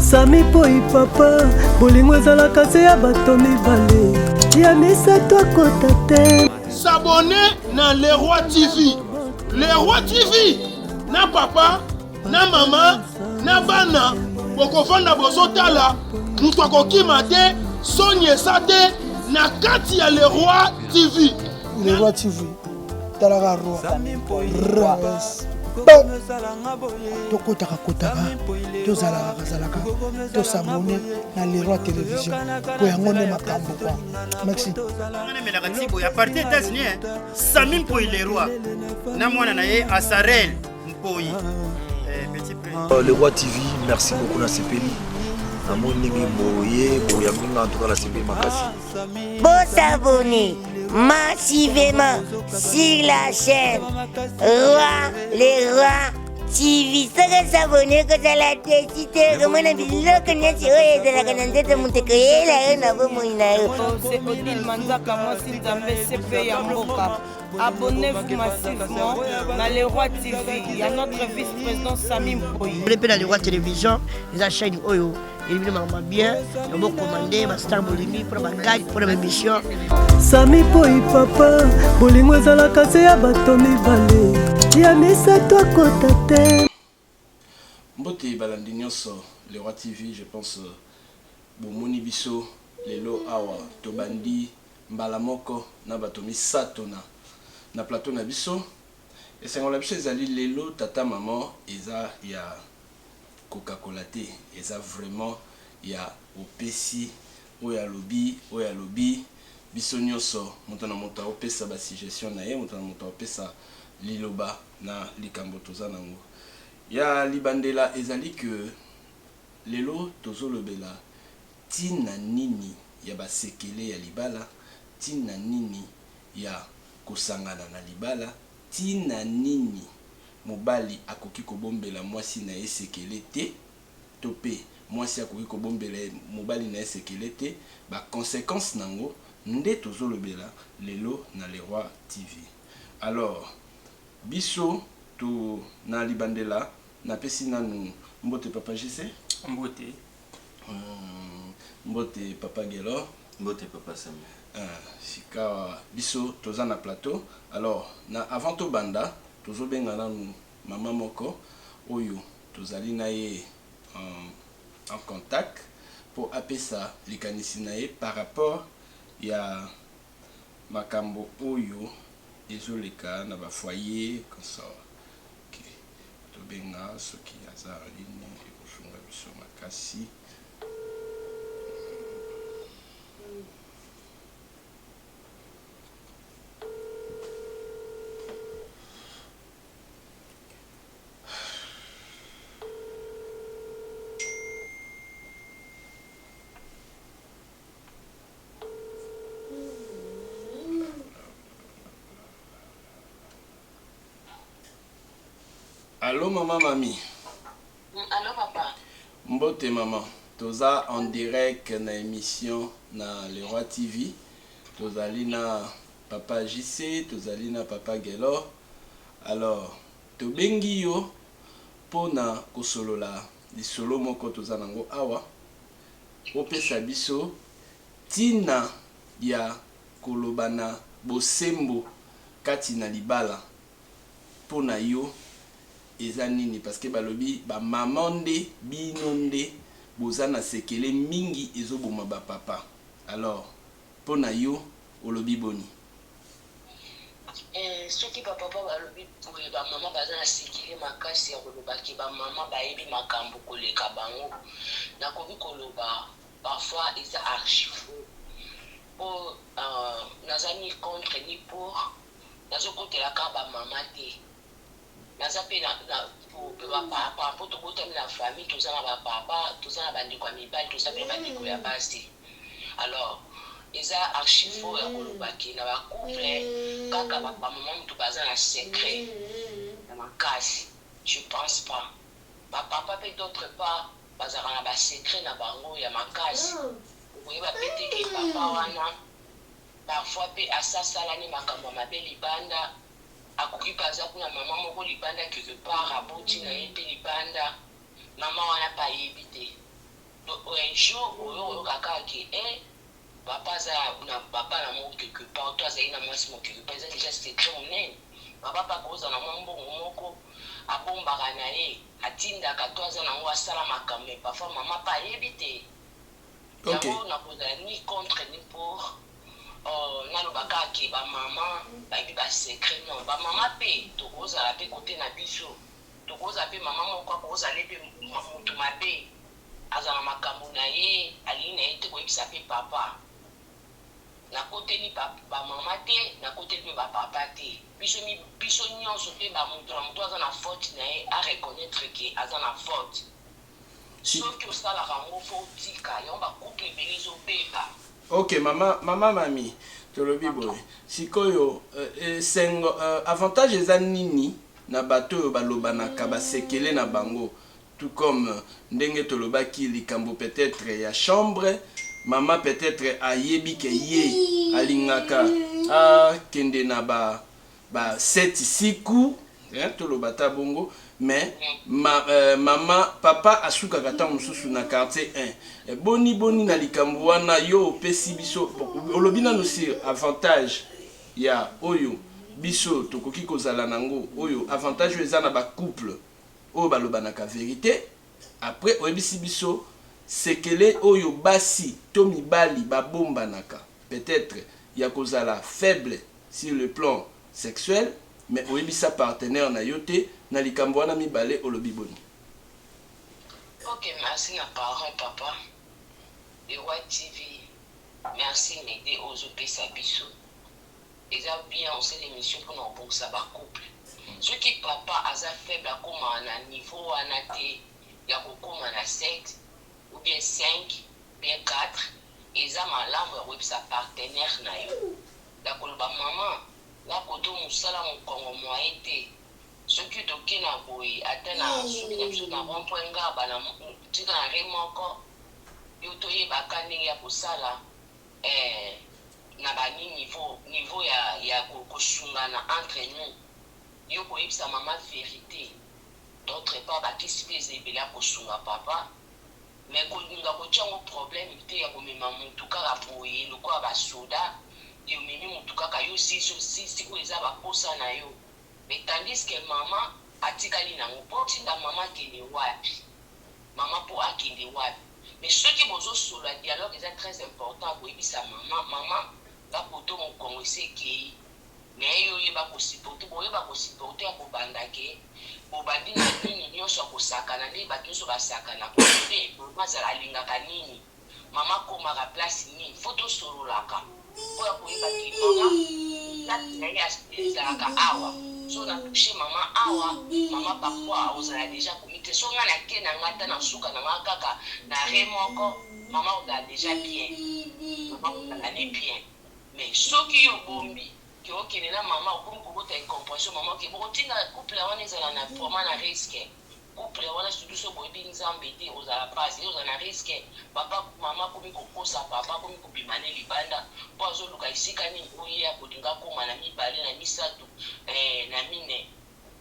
sami poi papa bolingo ezalaka se ya bato mibale ya misato akota te sabone na leroi tv leroi tv na papa na mama na bana bokofanda bozotala moto akokima te soni esa te na kati ya leroi tv leroi tv talaka tokotaka kotaka tozalaka kazalaka tosabone na leroi télévision po yango nde makambo kwa maxi tonemelaka tibo ya parti états-unis sami mpoi leroi na mwana na ye asarel mpoi eh, euh, le roi tv merci beaucoup nasepeli namoni ndenge boye boyambinga antuka nasepeli makasi Bosabone massivement sur la chaîne Roi les Rois TV. Soki osabone kozala desi te okomona biloko nyonso oyo ezalaka na nzoto moto ekoyela yo na bomoi na yo. C'est Odile Manzaka, moi, si Nzambe, c'est payé en boca. Abonnez-vous massivement na Le Roi TV ya notre vice-président Sami Mpoyi. Bele mpe na Le Roi Télévision eza chaîne oyo elibino makambo bien na bokomande bastar bolingi mpona bagage mpona baémission. Sami Mpoyi papa bolingo ezalaka se ya bato mibale ya misato akota te. Mbote balandi nionso le roi TV je pense bomoni biso lelo awa tobandi mbala moko na bato misato na na plateau na biso esengo na biso ezali lelo tata maman eza ya kokakola te eza vraiment ya opesi Oyo alobi oyo alobi biso nionso moto na moto akopesa ba suggestions na ye moto na moto akopesa liloba na likambo toza na ngo ya libandela ezali que lelo tozo lobela tina nini ya ba sekele ya libala tina nini ya kosangana na libala tina nini mobali akoki kobombela mwasi na ye sekele te. to mpe mwasi akoki kobombela ye mobali na ye sekele te, ba consequences n'ango nde tozolobela lelo na Le Roi TV. Alors, biso to na libandela napesi nanu mbote Papa JC. Mbote. Mbote Papa Guelor. Mbote Papa Samy. Ahh, sikawa biso toza na plateau, alors na avant tobanda tozobenga nanu mama moko oyo Tozali na ye en contact mpo apesa likanisi na ye par rapport ya makambo oyo ezoleka na ba foyer consort. Ok tobenga soki aza en ligne ekosunga biso makasi. Allô maman mami. Oui, allô papa. Mbote maman. Toza en direct na émission na Le Roi TV. Tozali na papa JC, tozali na papa Gelor. Alors, Tobengi yo mpo na kosolola lisolo moko toza na ngo awa, opesa biso ntina ya koloba na bosembo kati na libala mpo na yo eza nini? Parce que balobi ba maman nde bino nde boza na sekele mingi ezoboma ba papa alors mpo na yo olobi boni? Eeh soki ba papa balobi boye ba maman baza na secret makasi ya koloba que ba maman bayebi makambu koleka bango nakoki koloba parfois eza archi faux po naza ni contre ni pour nazokotela ka ba maman te Naza pe na ba papa po tobotami na famille toza na ba papa toza na ba ndeko ya mibali toza pe na ba ndeko ya basi alors eza archi faux ya koloba ke na ba couple kaka ba maman mutu baza na secret ya makasi je pense pas ba papa pe d'autre part bazalaka na ba secret na bango ya makasi okoyeba pe te ke papa wana parfois pe asasalani makambo ya mabe libanda Akoki pe aza kuna maman moko libanda quelque part aboti na ye pe libanda maman wana pe ayebi te donc un jour oyo koyoka kaka ke eh papa aza na ba bana moko quelque part to azali na mwasi moko quelque part eza dejà secret monene papa pe akoki kozala na mwa mbongo moko abombaka na ye atindaka to aza na yango asala makambo mais parfois maman pe ayebi te. Ok. Yango nakozala ni contre ni pour oh naloba kaka ke ba maman bayebi ba secret non ba maman pe tokozala pe cote na biso tokozala pe maman moko akozala ye pe mutu mabe azala na makambu na ye alingi na ye te koyebisa pe papa nakoteli ba maman te nakoteli pe ba papa te biso biso nionso pe ba mutu na mutu aza na faute na ye a reconnaitre ke aza na faute. Soki osalaka yango faut otika yango ba couple ebele ezo beba. Ok mama mama mami tolobi boye sikoyo esengo avantage eza nini na bato oyo balobanaka ba sekele na bango tout comme ndenge tolobaki likambo peut etre ya chambre mama peut etre ayebi ke ye alingaka akende na ba Ba seti siku hein toloba ata bongo mais ma maman papa asukaka tango mosusu na quartier hein boni boni na likambo wana yo opesi biso olobi nanu sur avantage ya oyo biso tokoki kozala nango oyo avantage oyo eza na ba couple oyo balobanaka verite Après oyebisi biso sekele oyo basi to mibali ba bombanaka peut etre ya kozala faible sur le plan sexuel mais oyebisa partenaire na yo te na likambo wana mibale olobi boni? Ok merci na parent papa le roi TV merci na idee ozo pesa biso. Eza bien osala emission pona kobongisa ba couple soki papa aza faible akoma na niveau wana te ya kokoma na sept ou bien cinq bien quatre eza malamu ya koyebisa partenaire na yo ya koloba maman nga koto musala mokongo moyen te soki toke na boye ata na suki na biso na rond point nga bana tika na remoko yo toyeba ka ndenge ya kosala Eeh na ba ni niveau niveau ya ya ko sungana entre nous yo ko yebisa maman verite d'autre part ba kisi pe eza ebele ya ko sunga papa mais ko linga ko tia ngo problème te ya ko mema mutu kaka boye lokola ba soda et omemi mutu kaka yo si si si si oyo eza ba posa na yo mais tandis que maman atikali na ngo po otinda maman akende wapi maman po akende wapi. Mais soki bozo solola dialogue eza très important koyebisa maman maman nga poto mokongo esi ekeyi mais yo yeba ko supporte boyeba ko supporte ya kobanda ke bobandi na nini nionso ya kosakana nde batu nionso basakana kote maman azala alingaka nini maman akomaka place nini faut tosololaka po ya koyeba ki maman place naye ezalaka awa soki na touche maman awa maman parfois akozala dejà akomi te soki nga na ke na nga ata na suka na nga kaka na arret moko maman akozala dejà bien maman akozala ne bien mais soki yo obombi ke okende na maman okomi kobota incomprehension maman oke bokotinda couple wana ezala na vraiment na risque Couple wana surtout soki boyebi nzambe te ekozala pasi ekozala na risque papa maman akomi kokosa papa akomi kobima ne libanda po azoluka esika nini po ye akolinga akoma na mibale na misatu eh na mine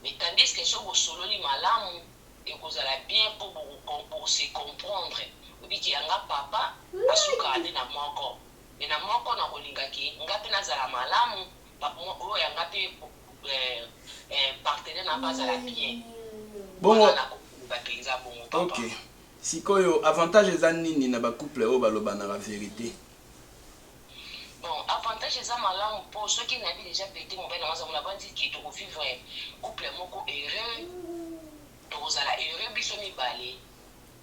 mais tandisque soki bosololi malamu ekozala bien po boko se comprendre oyebi ke yanga papa asukaka nde na moko mais na moko nakolinga ke nga pe nazala malamu Bongo ok sikoyo avantage eza nini na ba couple oyo balobanaka verite? Bon avantage eza malamu po soki nayebi dejà verite mobali na nga aza muna bandi que toko vivre couple moko heureux tokozala heureux biso mibale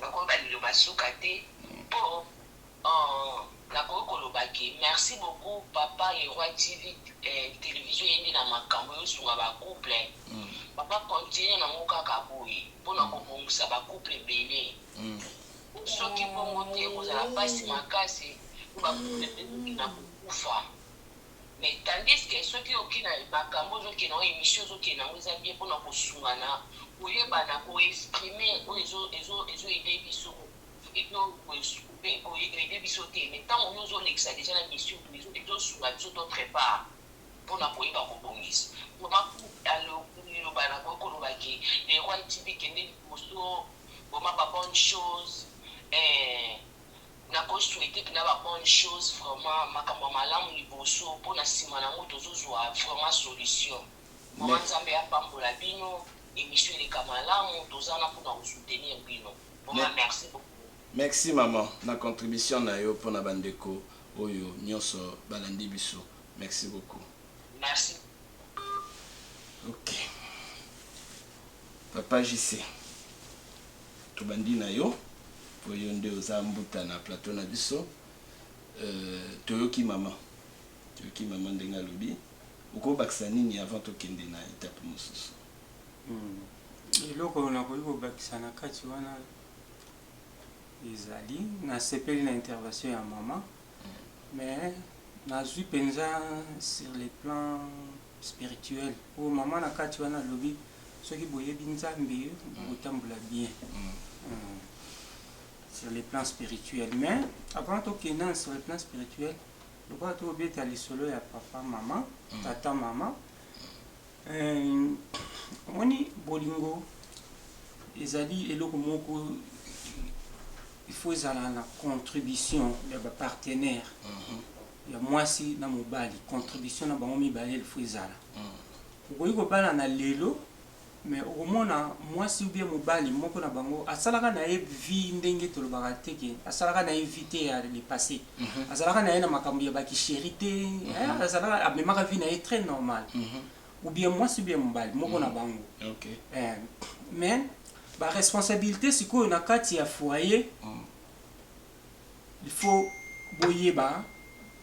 Nakoyeba liloba suka te po ooh nakoki koloba ke merci beaucoup papa le roi TV eeh television eyende na makambu eosunga ba couple papa continue na ngo kaka boye po na kobongisa ba couple ebele po soki bongo te ekozala pasi makasi po ba couple ebele eko kende na kokufa Mais tandis que soki oke na makambu ozo kende nango emission ozo kende nango eza bien pona ko sungana ko yebana ko exprime oyo ezo ezo ezo aide biso et puis ko aide biso te mais tangu yo ozo lekisa dejà na mission ezo sunga biso to prepare pona ko yeba ko bongisa pona liloba na koki ko loba ke le roi TV kende liboso vraiment ba bonne chose eeh. Nako souhaiter pena ba bonne chose vraiment makambo ya malamu liboso po na sima na ngo tozo zua vraiment solution vraiment nzambe apambola bino emission eleka malamu toza wana pona ko soutenir bino vraiment merci beaucoup. Merci maman na contribution na yo pona ba ndeko oyo nionso ba landi biso merci beaucoup. Merci. Ok papa JC. Tobandi na yo po yo nde oza mbuta na plateau na biso toyoki maman toyoki maman ndenge alobi okobakisa nini avant tokende na etape mosusu? Eloko nakoki kobakisa na kati wana ezali nasepeli na intervention ya maman Mais nazui penza sur le plan spirituel po maman na kati wana alobi soki boyebi Nzambe bokotambola bien sur le plan spirituel mais avant tokenda sur le plan spirituel lokola tobeta lisolo ya papa maman tata maman Ee, omoni, bolingo ezali eloko moko, il faut ezala na contribution ya ba partenaires, ya mwasi na mobali, contribution na bango mibale il faut ezala. Okoki kobalana lelo, mais okomona mwasi ou bien mobali, moko na bango asalaka na ye vie ndenge tolobaka te que asalaka na ye vie te ya le passe, Mhm. azalaka na ye na makambo ya bakisheri te mhm. eh, azalaka amemaka vie na ye très normal mhm. ou bien mwasi ou bien mobali moko na bango eh, mais baresponsabilité sikoyo na kati ya foyer il faut boyeba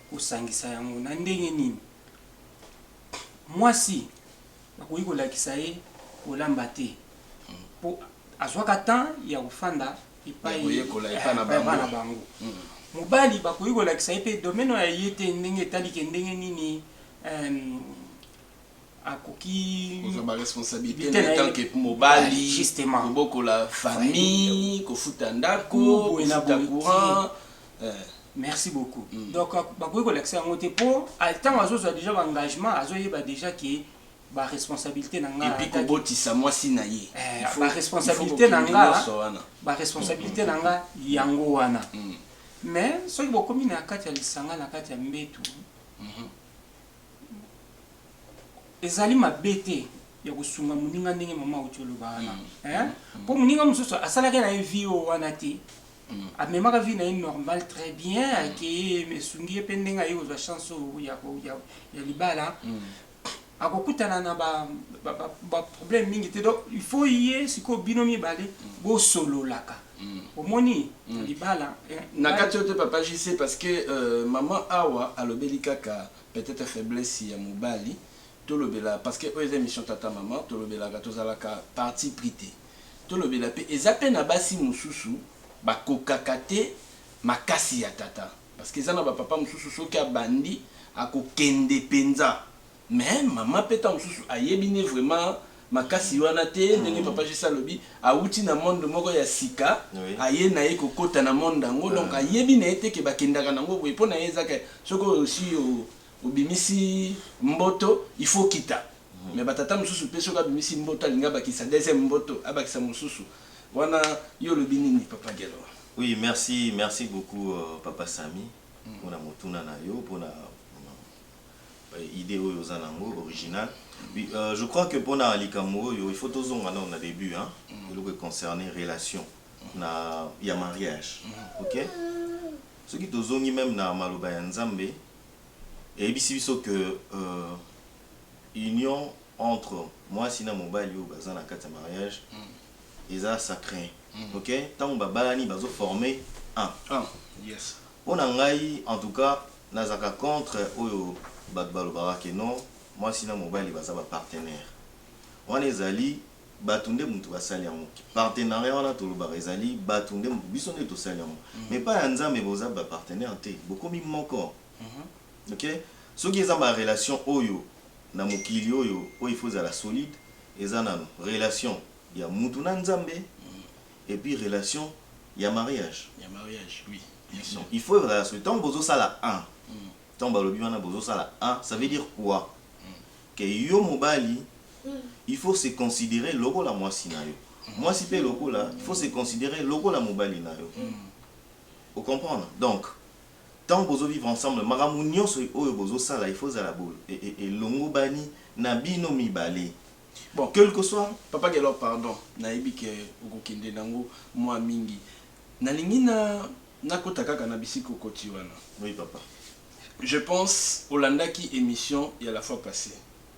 kosangisa yango na ndenge nini mwasi bakoki kolakisa ye kolamba te mpo azwaka temps ya kofanda koyekola epai na bango mobali bakoki kolakisa ye mpe domaine oyo aye te ndenge etali ke ndenge nini akoki kozwa baresponsabilité na etanke mobali kobokola famille kofuta ndako kofuta courant eh. merci beaucoup mm. donc bakoki kolakisa yango te mpo ntango azozwa déjà baengagement azoyeba déjà ke ba responsabilite na nga epi kobotisa mwasi na ye eh, ba responsabilite na nga ba responsabilite na nga yango wana mm. mais soki bokomi na kati ya lisanga na kati ya mbetu mhm. ezali mabe te ya kosunga moninga ndenge mama auti oloba wana mpo moninga mosusu asalaki na ye vie oyo wana te amemaka vie na ye normal très bien akei esungi ye mpe ndenge aye kozwa chance oyo ya libala akokutana na ba ba problème mingi te donc il faut ye sikoyo bino mibale bosololaka omoni libala na kati oyo te papa JC parce que euh, maman awa alobeli kaka peut-être faiblesse ya mobali tolobela parce que oyo eza émission tata maman tolobelaka tozalaka parti pris te tolobela pe eza pe na basi mosusu bakokaka te makasi ya tata Parce que eza na ba papa mususu soki abandi ako kende penza mais maman pe tango mususu ayebi nde vraiment makasi wana te ndenge papa JC alobi awuti na monde moko ya sika aye naye ko kota na monde yango donc ayebi naye te que ba kendaka nango boye pona ye eza ke soki osi obimisi mboto il faut okita mais ba tata mususu pe soki abimisi mboto alingi abakisa deuxième mboto abakisa mususu Wana yo olobi nini papa Guelor? Oui merci merci beaucoup papa Samy pona motuna na yo pona idee oyo oza na yango original oui euh, je crois que pona likambo oyo il faut tozonga nano na début hein eloko e concerner relation na ya mariage ok soki tozongi meme na maloba ya Nzambe eyebisi biso que euh, union entre muasi na mobali oyo baza na kati ya mariage eza sacre ok tangu ba balani bazo forme un pona ngai en tout cas nazalaka contre oyo batu balobaka que non muasi na mobali baza ba partenaire wana ezali batu nde mutu basali yango partenariat wana tolobaka ezali batu nde mutu biso nde tosali yango mais epayi ya nzambe boza ba partenaire te bokomi moko. Ok soki eza ba relation oyo na mokili oyo oyo il faut ezala solide eza nanu relation ya mutu na nzambe et puis relation ya mariage ya mariage oui bien sur il faut ezala solide tangu bozo sala un tangu balobi wana bozo sala un ça veut dire quoi que yo mobali il faut se considere lokola muasi nayo muasi pe lokola il faut se considere lokola mobali nayo o comprendre donc Tant bozo vivre ensemble makambo nionso oyo bozo sala il faut ezala bo elongobani na bino mibale bon que lque soit. Papa Guelor pardon nayebi que okokende nango mua mingi nalingi na nakota kaka na bisika okoti wana Oui papa. Je pense olandaki emission ya la fois passe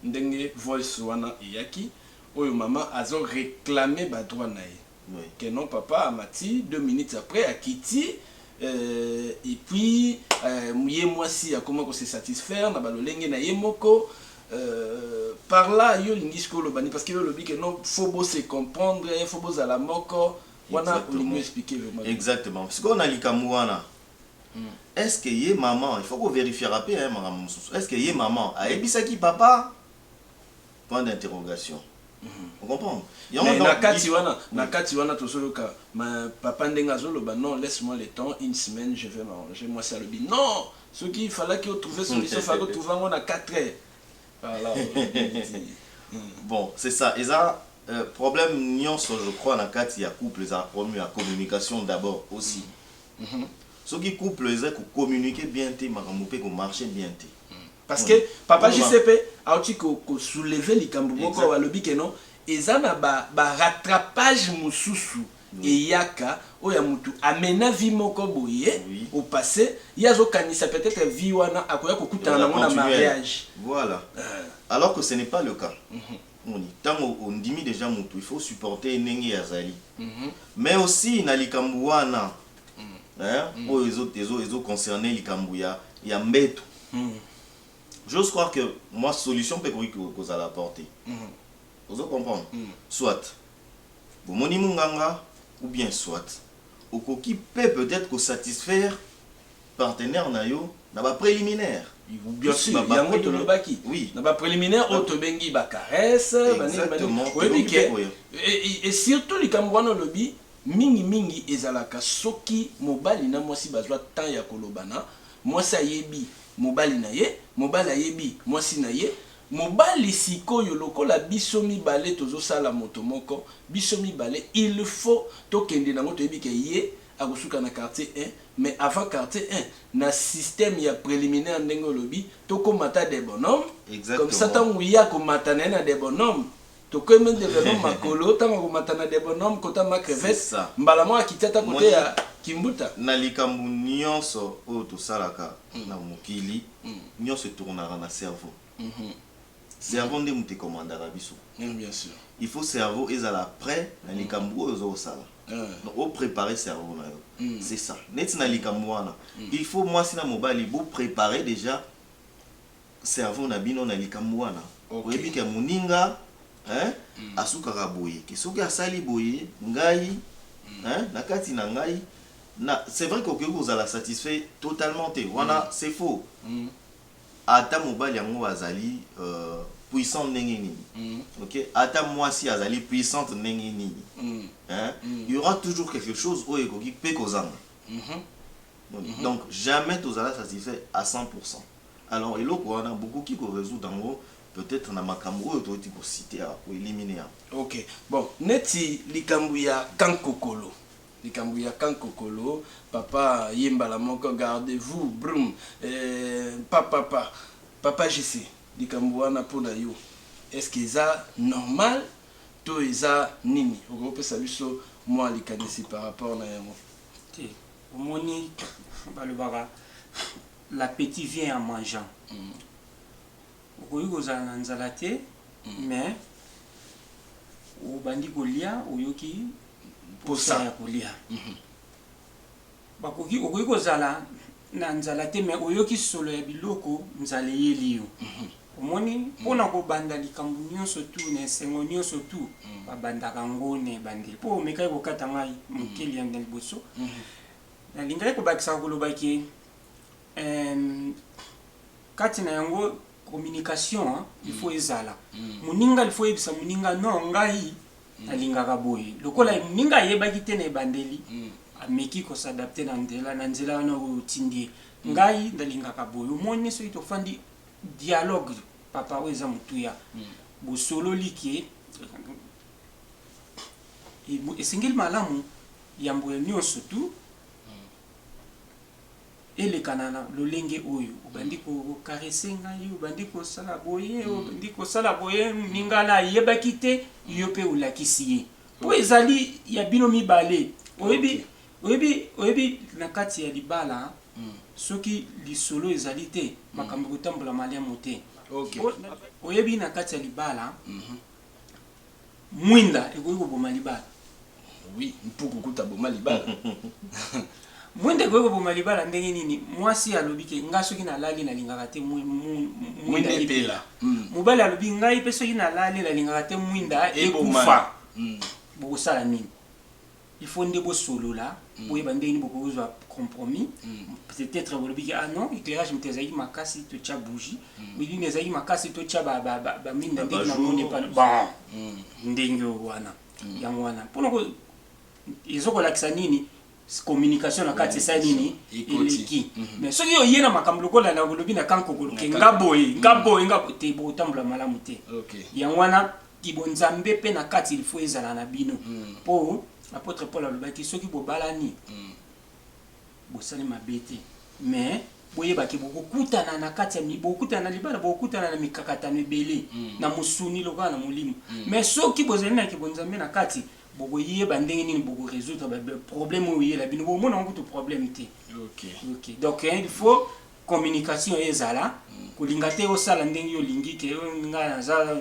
ndenge voice wana eyaki oyo maman azo reclamer ba droits naye. Que non papa amati deux minutes après akiti euh, et puis euh, ye mwasi akoma ko se satisfaire na balolenge na ye moko euh, par là yo olingi sikoyo oloba nini parce que yo olobi que non faut bo se comprendre faut bozala moko wana olingi Exactement. expliquer vraiment exactement sikoyo na likambo wana est ce que ye maman il faut ko verifiaka mpe hein, makambo mosusu est ce que ye maman ayebisaki papa point d'interrogation o comprendre yango mais na kati wana na kati wana tozo yoka ma papa ndenge azo loba non laisse moi le temps une semaine je vais m'arranger mwasi alobi non soki il fallaki o trouver solution fallaki o trouver yango na 4 heures voilà bon c'est ça eza euh, problème nionso je crois na kati ya couple ezala problème ya communication d'abord aussi mm -hmm. soki couple eza ko communiquer bien te makambo pe ko marcher bien te parce que papa JCP auti ko soulever likambo moko awa alobi que non eza na ba, ba rattrapage mosusu eyaka oyo ya mutu amena vie moko boye oui. au passé ye azokanisa peut-être vie wana akoya kokutana nango na mariage voilà euh. alors que ce n'est pas le cas mm -hmm. moni ntango ondimi déjà mutu il faut supporter ndenge azali mm -hmm. mais aussi na likambo wana hein oyo ezo ezo ezo concerner likambu ya ya mbetu j'ose croire que mwa solution pe ekoki kozala apporter ozo comprendre soit bomoni munganga ou bien soit okoki pe peut etre ko satisfaire partenaire na yo na ba preliminaire Bien sûr, ba- ba yango preliminaire. tolobaki oui na ba preliminaire oyo tobengi ba caresse banini banini Exactement. oyebi Tokoki ke pe koya. e- e- e surtout likambo wana olobi Mingi mingi ezalaka soki mobali na mwasi bazwa temps ya kolobana, mwasi ayebi mobali na ye, mobali ayebi mwasi na ye, mobali sikoyo lokola biso mibale tozo sala moto moko, biso mibale il faut tokende nango toyebi ke ye akosuka na quartier un mais avant quartier un na système ya preliminaire ndenge olobi tokoma ata debonhomme comme ça Exactement. tango ye akomata na ye na debonhomme Tokomi ndeveno makolo ntango akomata na debonom kota ma crevette mbala moko akiti ata kote ya kimbuta. Na likambo nionso oyo tosalaka na mokili nionso e tournaka na cerveau. Cerveau nde moto e commandaka biso. Il faut cerveau ezala pret na likambo oyo oza kosala. Donc o preparer cerveau na yo. C'est ça. Neti na likambo wana il faut mwasi na mobali bo preparer dejà cerveau na bino na likambu wana oyebi ke muninga hein asukaka boye ke soki asali boye ngai hein na kati na ngai na c'est vrai ke okoki kozala satisfait totalement te wana c'est faux ata mobali yango azali puissant ndenge nini ok ata muasi azali puissante ndenge nini hein il y'aura toujours quelque chose oyo ekoki pe kozanga donc jamais tozala satisfait à 100 pourcent. Alors eloko wana bokoki ko resoudre yango peut etre na makambu oyo towuti ko citer awa, ko eliminer awa. Ok bon neti likambu ya camp kokolo likambu ya camp kokolo papa ye mbala moko garde vous brum eeh pa pa pa papa JC likambu wana pona yo est ce que eza normal to eza nini okoki opesa biso mua likanisi par rapport na yango. Te omoni balobaka. L'appetit vient en mangeant. Okoki kozala na nzala te mais obandi kolia oyoki posa ya kolia. Bakoki, okoki kozala na nzala te mais oyoki solo ya biloko, nzala eyeli yo. Omoni? Mpo na kobanda likambo nionso tout, na esengo nionso tout, babandaka yango na ebandeli. Mpo omekaki kokata ngai moke na liboso, nalingaki kobakisaka koloba que, Eemm kati na yango communication il faut ezala moninga il faut oyebisa moninga non ngai nalingaka boye lokola moninga ayebaki te na ebandeli ameki ko s'adapter na nzela na nzela wana oyo otindi ye ngai nalingaka boye omoni soki tofandi dialogue papa oyo eza motuya bosololi ke esengeli malamu yambo ya nionso tout eleka na lolenge oyo obandi ko caresse ngai obandi kosala boye mm. obandi kosala boye moninga na ayebaki te mm. yo mpe olakisi ye mpo okay. ezali ya bino mibale oyebi okay. oyebi oyebi na kati ya libala mm. soki lisolo ezali te mm. makambo ekotambola maliamu te okay. oyebi na kati ya libala mm -hmm. Mwinda ekoki koboma libala. Oui, mpuku kutu aboma libala. Mwinda ekoki koboma libala ndenge nini? Mwasi alobi ke nga soki nalali nalingaka te mwinda epela. Hmm. Mobali alobi ngai pe soki nalali nalingaka te mwinda ekufa. Hmm. Bokosala nini? il faut nde bosolola mm. boyeba ndenge nini bokoki kozwa compromis mm. peut-être bolobi ke ah non éclairage moto ezalaki makasi totya bougie mm. milimo ezalaki makasi totya baminda ndenge namoni epana bon ndenge oyo wana yango wana mpona ezo kolakisa nini communication na kati esa nini eleki mhm. mais soki oye na makambo lokola na olobi na kankokoloke nga boye nga boye nga te bokotambola malamu te yango wana Kibo nzambe pe na kati il faut ezala na bino po apotre Paul alobaki soki bobalani bosali mabe te mais boyeba ke bokokutana na kati ya bokokutana na libala bokokutana na mikakatano ebele na mosuni lokola na molimo mais soki bozali na kibo nzambe na kati bokoyeba ndenge nini boko resoudre ba problème oyo eyela bino bomona yango kutu problème te okay. Okay. donc il faut communication ezala kolinga te osala ndenge yo olingi ke nga naza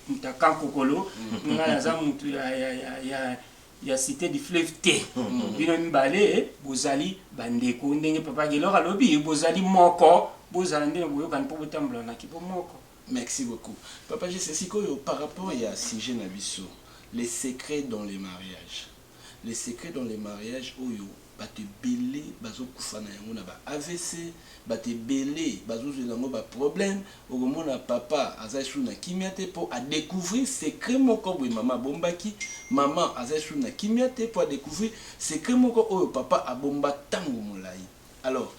moto ya kankokolo nga naza moto ya, ya, ya, ya, ya cité du fleuve te bino mibale bozali bandeko ndenge papa gelor alobi bozali moko bozala nde na boyokani mpo botambola na kibomoko Merci beaucoup. Papa Jesse, sikoyo par rapport ya sujet na biso, les secrets dans les mariages. Le secret dans le mariage oyo batu ebele bazo kufa na yango na ba avc batu ebele bazo zwela yango ba problème okomona papa aza lisusu na kimia te po a decouvrir secret moko boye maman abombaki maman aza lisusu na kimia te po a decouvrir secret moko oyo papa abomba tango molayi alors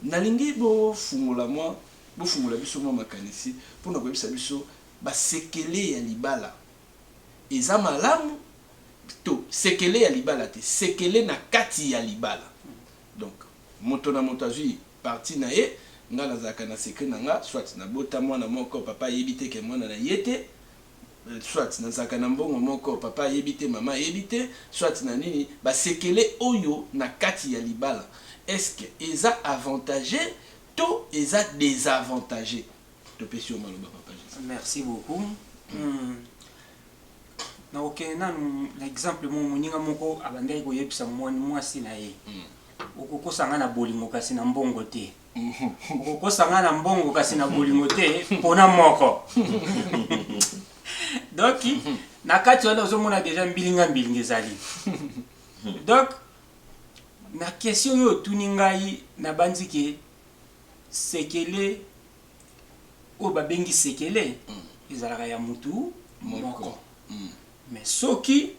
nalingi bo fungola mwa bofungola biso mwa makanisi pona koyebisa biso ba sekele ya libala. eza malamu to sekele ya libala te sekele na kati ya libala donc moto na moto azui partie na ye nga nazalaka na secret na nga soit na bota mwana moko papa ayebi te ke mwana na ye te soit nazalaka na mbongo moko papa ayebi te mama ayebi te soit na nini ba sekele oyo na kati ya libala est ce que eza avantage to eza desavantage topesi yo maloba papa jesus merci beaucoup hmm. nakokende nanu na exemple moko moninga moko abandaki koyebisa mwasi na ye hmm. okokosa ngai na bolingo kasi na mbongo te hmm. okokosa ngai na mbongo kasi na bolingo te mpona moko donc na kati wana ozomona deja mbilinga mbilinga ezali donc na question oyo otuni ngai nabanzi ke Sekele oyo babengi sekele ezalaka ya mutu moko mais soki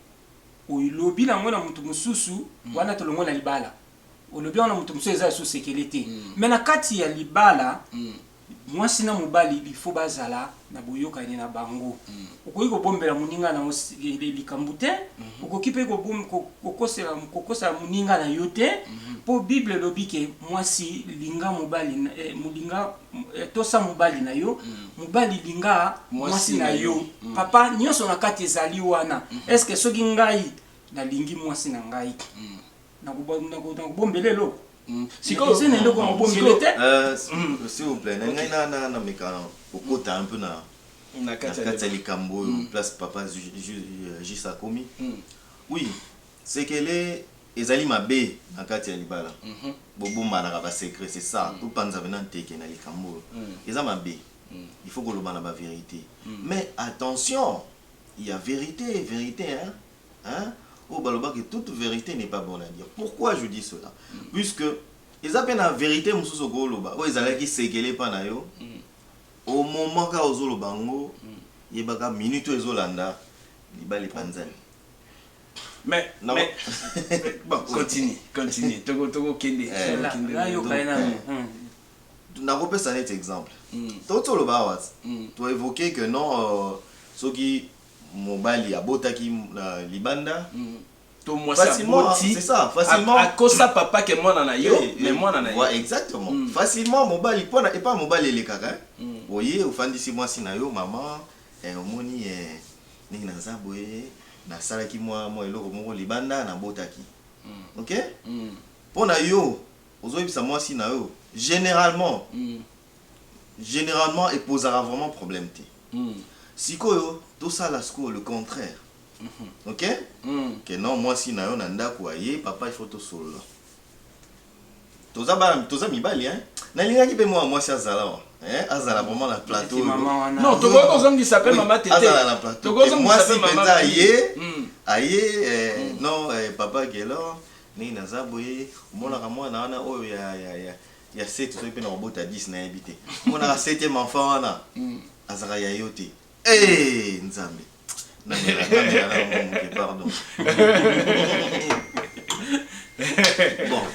olobi na yango na mutu mususu wana tolongwe na libala olobi yango na mutu mususu eza lisusu sekele te mais na kati ya libala muasi na mobali il faut bazala na boyokani na bango. Okoki kobombela moninga na yo likambo te, okoki mpe kokosela moninga na yo te, mpo Bible elobi ke mwasi linga mobali, molinga, tosa mobali na yo, mobali linga mwasi na yo. Papa, nionso na kati ezali wana. Est-ce que soki ngai nalingi mwasi na ngai, nakobombela eloko hmm. sikoyo eza na eloko ya kobombela te euh, hmm. s'il vous plaît na ngai nameka kokota un peu na na kati ya likambo oyo hmm. place papa juste euh, akomi oui sekele ezali mabe na kati ya libala mhm. bobombanaka basecret c'est ça topanza mpena nteke na likambo oyo eza mabe il faut koloba na baverité mais attention ya verité verité hein? hein oyo baloba que toute verite n'est pas bonne à dire pourquoi je dis cela puisque eza pe na verite mosusu okoki oloba oyo ezalaki sekele epa na yo au moment kaka ozoloba yango yebaka minute oyo ezolanda libala epanzani Mais, non. mais, bon, continue, continue. Toko, toko kende. Eh, na, na yo kaya na yo. nakopesa neti exemple mm. toti oloba awa mm. toevoke que non euh, soki mobali abotaki na libanda to mwasi aboti akosa papa ke mwana na yo mais mwana na ye exactement mm. facilement mobali pona epa mobali elekaka mm. oye ofandisi mwasi na yo mama eh, omoni eh, ndenge naza boye nasalaki mwa mwa eloko moko libanda nabotaki mm. ok mm. mpo na yo ozoyebisa mwasi na yo généralement mm. Generalement e pozaka vraiment problème te. Sikoyo to sala sikoyo le contraire ok que non mwasi na yo na ndaku aye papa il faut to solola toza bana toza mibali hein na lingaki pe mwana mwasi azala wa hein azala vraiment na plateau oyo non to ko zongisa pe mama tete azala na plateau to ko zongisa pe mama mwasi aye aye eh, non eh, papa Guelor nini naza boye omonaka mwana wana oyo ya ya ya ya 7 soki pe na kobota 10 nayebi te monaka 7 enfant wana hmm. azaka ya yo te ee eh, nzambe pardon bon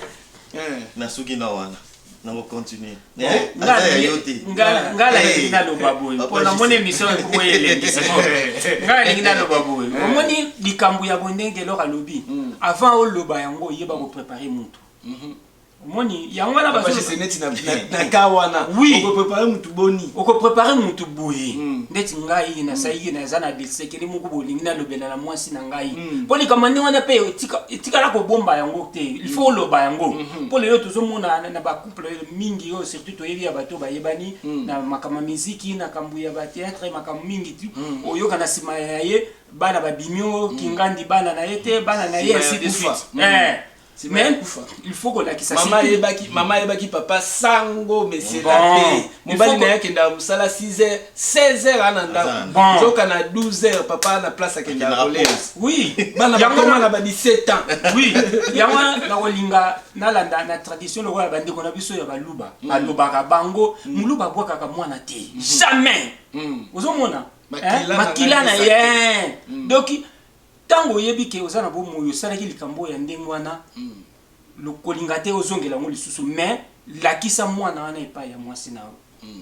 eh. nasuki na wana nango continue eh, ngai nalingi naloba boye mpo namoni émission ekoki elendisa ngai nalingi naloba boye omoni likambo ya bondenge eloko alobi hmm. avant oloba yango oyeba koprépare motu mhm. omoni yango wana bazose neti na ka wana okoprepare mutu boni okoprepare mutu boye hmm. ndeti ngai nasalaki hmm. naza na lisekeli moko bolingi nalobela na mwasi na ngai hmm. mpo likambo ndenge wana mpe etikala kobomba yango te ilfaut oloba yango mpo lelo tozomona na bacouple mingi oyo surtout toyebi ya bato bayebani na makambo ya miziki na kambo ya bateatre makambo mingi ti oyoka na nsima ya ye bana babimi o kingandi bana na ye te bana na ye asikufa C'est Mais maman kufa. il faut kolakisa Mama surtout- ayebaki, mama ayebaki papa sango monsieur Bon. la paix. Il Mobali faut na ko- ye akendaka mosala 6 heures, 16 heures ana Aza ndako. na ndako. Nzoka na 12 heures papa na place akendaka Akendaka kolela. pause. Oui. Bana Yango bakoma na- na ba 17 ans. oui yango wana nakolinga nalanda na tradition lokola bandeko na biso ya baluba balobaka bango moluba abwakaka mwana te jamais Mm. ozomona Makila Eh, na makila na ngai ye doki Tango oyebi ke oza na bomoi osalaki likambo oyo ya ndenge wana, kolinga te ozongela yango lisusu mais lakisa mwana wana epayi ya mwasi na yo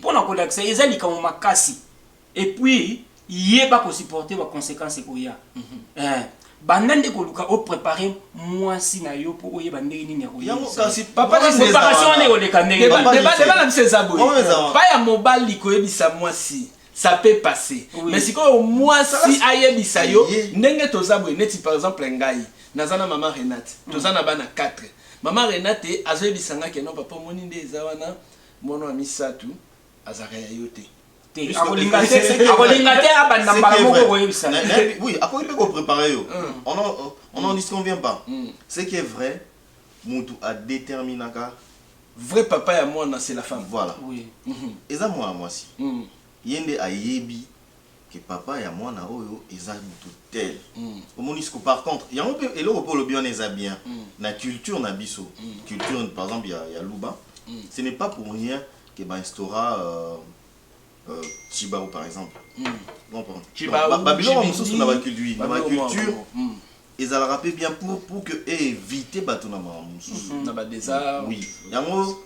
pona kolakisa ye eza likambo makasi et puis yeba ko supporter ba consequences ekoya eh, banda nde koluka o preparer mwasi na yo po oyeba ndenge nini ya Yango koyebisa kasi ye. papa nini eza Preparation wana wana? ekoleka ndenge Deba- wana. deba- deba na biso eza boye Oyo eza wana. pa ya mobali koyebisa mwasi ça peut passer oui. mais sikoyo mwasi ayebisa yo ndenge toza boye neti par exemple ngai naza na mama renate mm. toza na bana 4 mama renate azoyebisa nga ke no papa omoni nde eza wana mwana wa misato azalaka ya yo te akolinga te abanda mbala moko koyebisa oui akoki mpe koprépare yo on n'en disconvient pas ce qui est vrai mutu a determinaka. Vrai papa ya mwana c'est la femme. Voilà eza mwana mwasi ye nde ayebi que papa ya mwana oyo eza mutu tel omoni sikoyo par contre yango pe eloko pe olobi wana eza bien na culture na biso culture par exemple ya luba ce n'est pas pour rien que ba instaura Tshibawu par exemple. Tshibawu, ba biloko mosusu na ba culture, na ba culture ezalaka pe bien pour pour que eviter batu na makambo mosusu. Na ba desarts. Oui, yango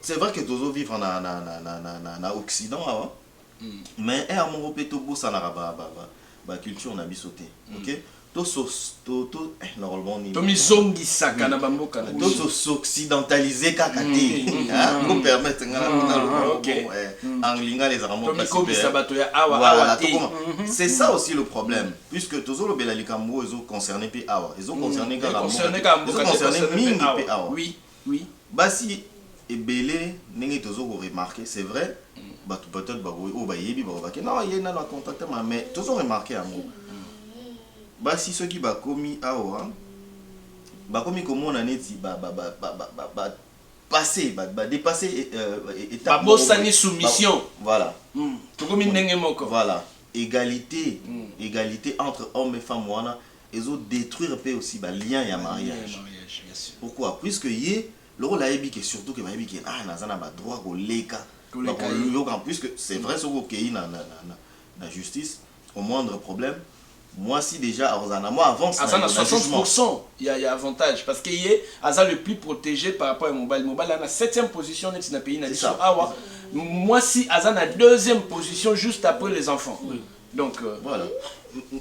c'est vrai que tozo vivre na na na na occident awa mais heure moko pe tobosanaka ba ba ba culture na biso te. Ok? Tomizongisaka na bamboka na biso. To s'occidentaliser kaka te. Bo permettre nga naloba yango bongo eh. En lingala ezalaka mot pasi pe eh. Voilà tokoma. C'est ça aussi le problème puisque tozolobela likambo oyo ezo concerner pe awa. Ezo concerner kaka mboka te. Ezo concerner mingi pe awa. Oui basi ebele ndenge tozo ko remarque c'est vrai batu peut etre bako oyo bayebi bako bake non ye nanu a contacte ma mais tozo remarque yango basi soki bakomi awa bakomi komona neti ba ba ba ba ba passe ba depasse etape ba bosani soumission voilà tokomi ndenge moko voilà egalite egalite entre homme et femme wana ezo detruire pe aussi ba liens ya mariage pourquoi puisque ye lokola ayebi ke surtout ke bayebi ke ah naza na ba droit koleka bakoyoka puisque c'est vrai soki okeyi na na justice au moindre problème mwasi dejà akozala na mwa avance aza na 60 pourcent ya ya avantage parce que ye aza le plus protege par rapport ya mobali mobali aza na 7e position neti na pays na biso awa mwasi aza na deuxième position juste après les enfants Donc euh, voilà.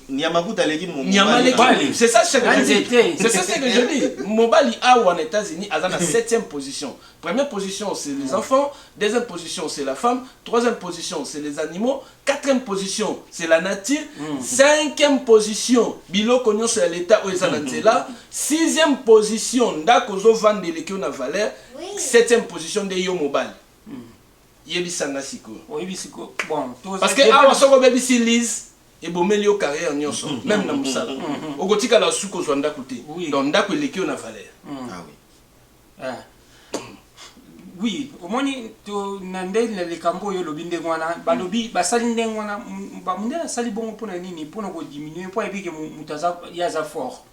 Niamakuta aleki mobali. C'est ça ce que je dis. C'est ça ce que je dis. Mobali awa en États-Unis aza na 7e position. Première position c'est les enfants, deuxième position c'est la femme, troisième position c'est les animaux, quatrième position c'est la nature, mm. cinquième position biloko nyonso ya l'État oyo eza na mm. nzela, sixième position ndako ozo vanda eleki yo na valeur, septième position nde yo mobali. Yebisa nga sikoyo. Oyebi sikoyo bon toza. Parce que awa soki obebisi Liz ebomeli yo carrière nionso meme na musala. Okotikala su kozwa ndaku te. Donc ndaku eleki yo na valeur. Ah oui. Ah. Oui, omoni to na nde na likambo oyo olobi ndenge wana balobi basali ndenge wana bamundele asali bongo mpo na nini mpo na kodiminue mpo ayebi ke moto aza ye aza fort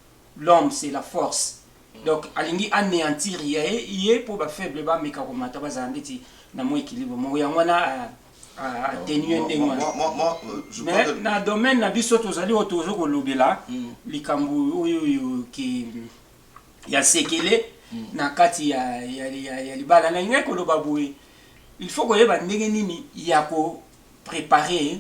l'homme c'est la force Donc alingi aneantir ye ye po ba faible ba meka ko mata bazala ndeti na mwa equilibre moko yango wana atenuer ndenge wana mais na domaine na biso tozali oyo tozo kolobela likambo oyo oyo ke ya sekele na kati ya ya libala na lingai koloba boye il faut koyeba ndenge nini ya ko preparer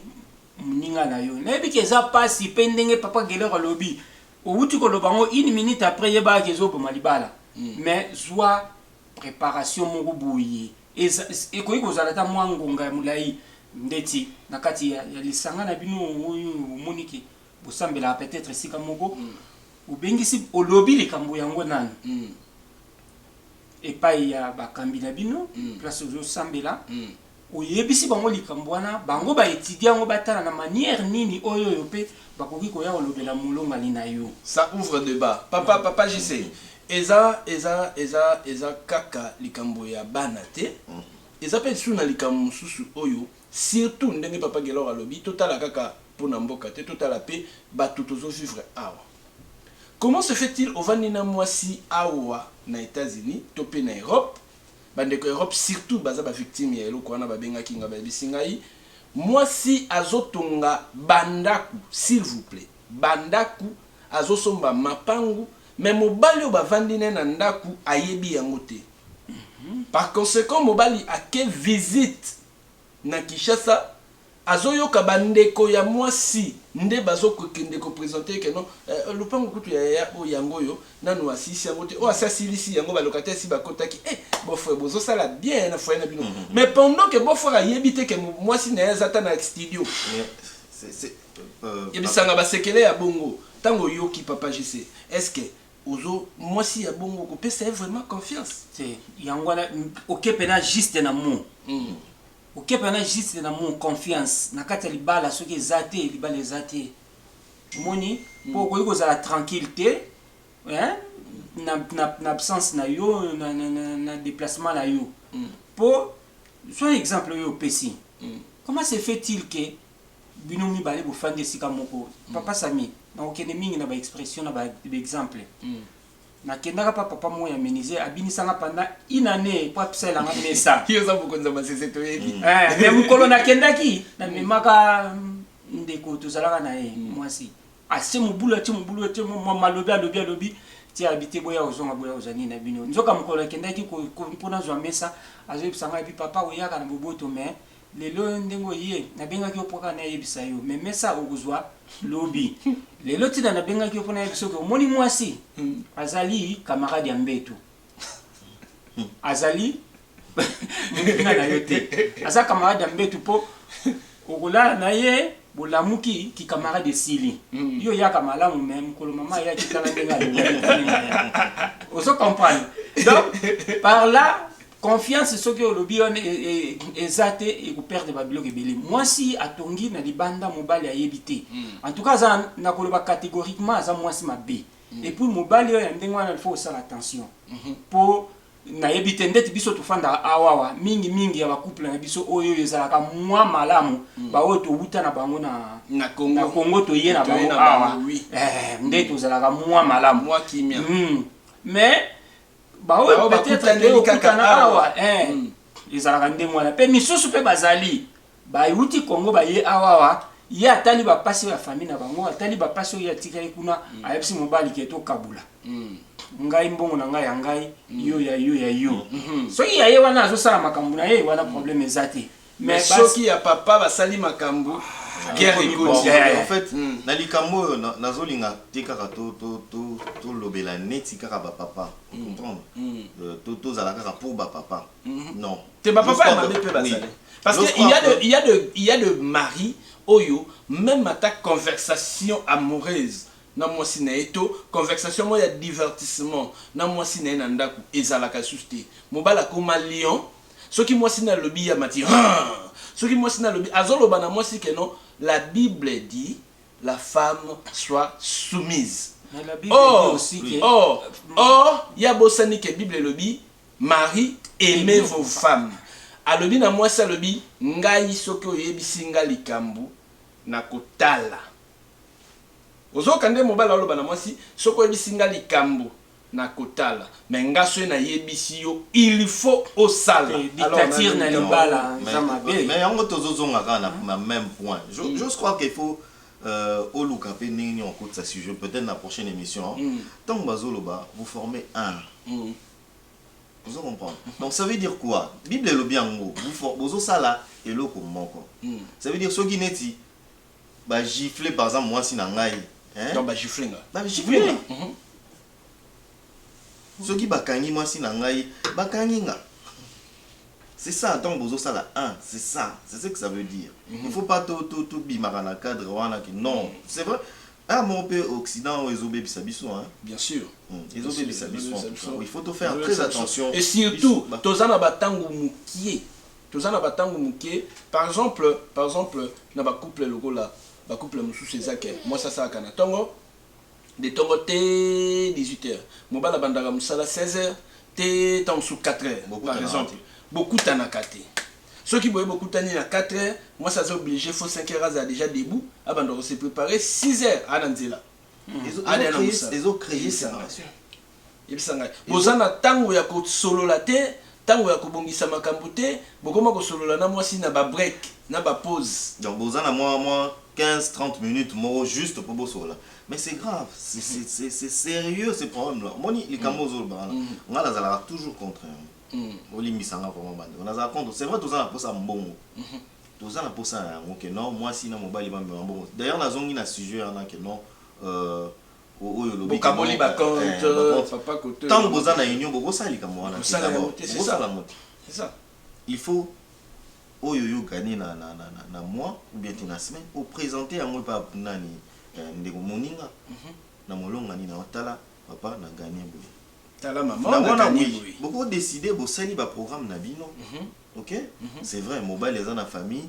moninga na yo nayebi ke eza pasi pe ndenge papa Guelor alobi Owuti koloba ngo une minute après yebaka ke ezo boma libala mais zua preparation moko boye eza ekoki kozala ata mua ngonga ya mulayi ndeti na kati ya ya lisanga na bino oyo omoni ke bosambelaka peut etre esika moko obengisi olobi likambo yango nanu epayi ya bakambi na bino place ozo sambela Oyebisi bango likambo wana, bango ba etudier yango batala na maniere nini oy'oyo mpe bakoki koya kolobela molongani na yo. Ça ouvre debat papa, papa JC eza eza eza eza kaka likambo ya bana te eza pe lisusu na likambo mosusu oyo surtout ndenge papa Guelor alobi totala kaka po na mboka te totala pe batu tozo vivre awa comment se fait-il ovandi na mwasi awa na Etats-Unis to pe na Europe Ba ndeko Europe surtout baza ba victimes ya eloko wana ba bengaki nga ba yebisi ngai mwasi azo tonga ba ndaku s'il vous plait ba ndaku azo somba mapangu mais mobali oyo ba vandi naye na ndaku ayebi yango te par consequent mobali ake visite na Kinshasa azo yoka ba ndeko ya mwasi nde bazo kende ko presenter ye que non eh lopango kutu ya yaya oyo yango oyo nanu asilisi yango te oyo asi asilisi yango ba locataire esi ba kotaki eh beau frère bozo sala bien hein na foyer na bino mais pendant que beau frère ayebi te que mwasi naye aza ata na studio yebisanga ba sekele ya bongo tango oyoki papa JC est ce que Ozo mwasi ya bongo oko pesa ye vraiment confiance te yango wana okepena juste na mot okepena juste na mot confiance na kati ya libala soki eza te libala eza te omoni po okoki kozala tranquille te hein na na na absence na yo na na na, na deplacement na yo po soit exemple oyo opesi comment se fait-il que Bino mibale bofandi esika moko. Papa Samy, nakokende mingi na ba expressions na ba exemples. Nakendaka pa papa moko ya menuisier, abinisa nga pendant une annee po asalela nga mesa. Yo oza mokonzi ya masese toyebi. Eeh, mais mokolo nakendaki, namemaka ndeko tozalaka na ye mwasi, atie mobulu, atie mobulu, atie mua malobi, alobi, alobi ti alobi te boya kozonga, boya kozwa nini na bino. Nzoka mokolo nakendaki po nazwa mesa, azoyebisa nga, alobi papa oyaka na boboto mais Lelo yo ndenge oye na bengaki yo po kaka na yebisa yo mais mesa okozua lobi lelo ti na bengaki yo po na yebisa yo ke omoni muasi azali camarade ya mbetu azali muninga na yo te aza camarade ya mbetu po okolala na ye bolamuki ki camarade esili yo yaka malamu mais mukolo maman ayaki tala ndenge alobaki ozo comprendre donc par là Confiance soki olobi wana eza te eko perdre ba biloko ebele. Mwasi atongi na libanda mobali ayebi te. En tout cas aza na koloba categoriquement aza mwasi mabe. Et puis mobali oyo ya ndenge wana il faut osala attention. Po nayebi te ndeti biso tofandaka awa awa mingi mingi ya ba couple na biso oyo ezalaka mwa malamu ba oyo towuta na bango na na Congo toye na bango awa nde tozalaka mwa malamu. Mais baoyo peut-être nde okutana awa eh, mm. ezalaka ndenge wana mpe misusu mpe bazali bayuti kongo baye awawa ye atali bapasi ya fami na bango atali bapasi oyo atikali kuna mm. ayebisi mobali ke tokabula mm. ngai mbongo na ngai ya ngai mm. yo ya yo ya yo mm-hmm. soki ya ye wana azosala makambo na ye wana mm. probleme eza te Mais soki ya papa basali makambu guerre ekoti. En fait na likambo oyo nazo linga te kaka to lobela neti kaka ba papa o comprendre? To to zala kaka pour ba papa non. Te ba papa ya mabe pe bazali parce que il ya de il ya de il ya de mari oyo meme ata conversation amoureuse na mwasi na ye to conversation moko ya divertissement na mwasi na ye na ndaku ezalaka lisusu te mobali akoma lion Soki mwasi na lobi ya mati haa soki mwasi na lobi azo loba na mwasi ke non la bible dit la femme soit soumise or or or ya bosani ke bible elobi mari aime vos femme alobi na mwasi alobi ngai soki oyebisi nga likambu na kotala ozoka nde mobali aloba na mwasi soki oyebisi nga likambu Nako tala mais nga soyi na yebisi yo il faut osala alors na lingi na yo. Mais yango tozo zonga kaka na meme point j'ose croire que il faut oluka pe ndenge nini okotisa sujet peut etre na prochaine emission tangu bazo loba vous formez un ozo comprendre donc ça veut dire quoi bible elobi yango bozo sala eloko moko ça veut dire soki neti Ba gifle par exemple muasi na ngai hein. Donc ba gifle nga. Ba gifle nga. Mm -hmm. Soki ba kangi muasi na ngai, ba kangi nga. C'est ça, donc bozo sala un, c'est ça, c'est ce que ça veut dire. Mm -hmm. Il faut pas tout tout tout bimaka na cadre wana ki non, mm -hmm. c'est vrai. Ah mon peu occident ou ezo bebisa biso hein. Bien sûr. Mm. Ezo bebisa biso. Il faut tout faire très attention. Et surtout, tozana ba tango mukie. Toza na ba tango muke par exemple par exemple na ba couple lokola ba couple mususu eza ke mwasi asalaka na tongo de tongo tee 18 heure mobali abandaka musala 16 heure tee tango mususu 4 heure par exemple bokutanaka te soki boye bokutani na 4 heure mwasi aza oblige faut 5 heure azala deja debout abanda ko se preparer 6 heure aa na nzela ezo creer separation. Yebisa ngai. Boza na tango ya ko solola te, tango ya ko bongisa makambu te, bokoma ko solola na mwasi na ba break, na ba pause. Donc boza na mwa mwa 15, 30 minutes moko juste po bosolola. Mais c'est grave, c'est serieux ce problème là. Omoni likambu oyo ozo loba wana? Nga nazalaka toujours contre yango. Bolimbisa nga vraiment ba ndeko. Nazalaka contre, c'est vrai toza na posa ya mbongo, toza na posa na yango que non mwasi na mobali ba mema mbongo. D'ailleurs nazongi na sujet wana que non, oyo olobi bokaboli ba compte papa koto ntango boza na union bokosala likambo wana bokosala moto il faut oyo yo gagne na, na, na, na, na mois ou bien te na semaine opresente yango epa nani eh, ndeko moninga mm -hmm. na molonga nini aotala papa na gagne boye tala mama na wana oui boko décider bosali ba programme na bino mm -hmm. ok mm -hmm. c'est vrai mobali aza na famille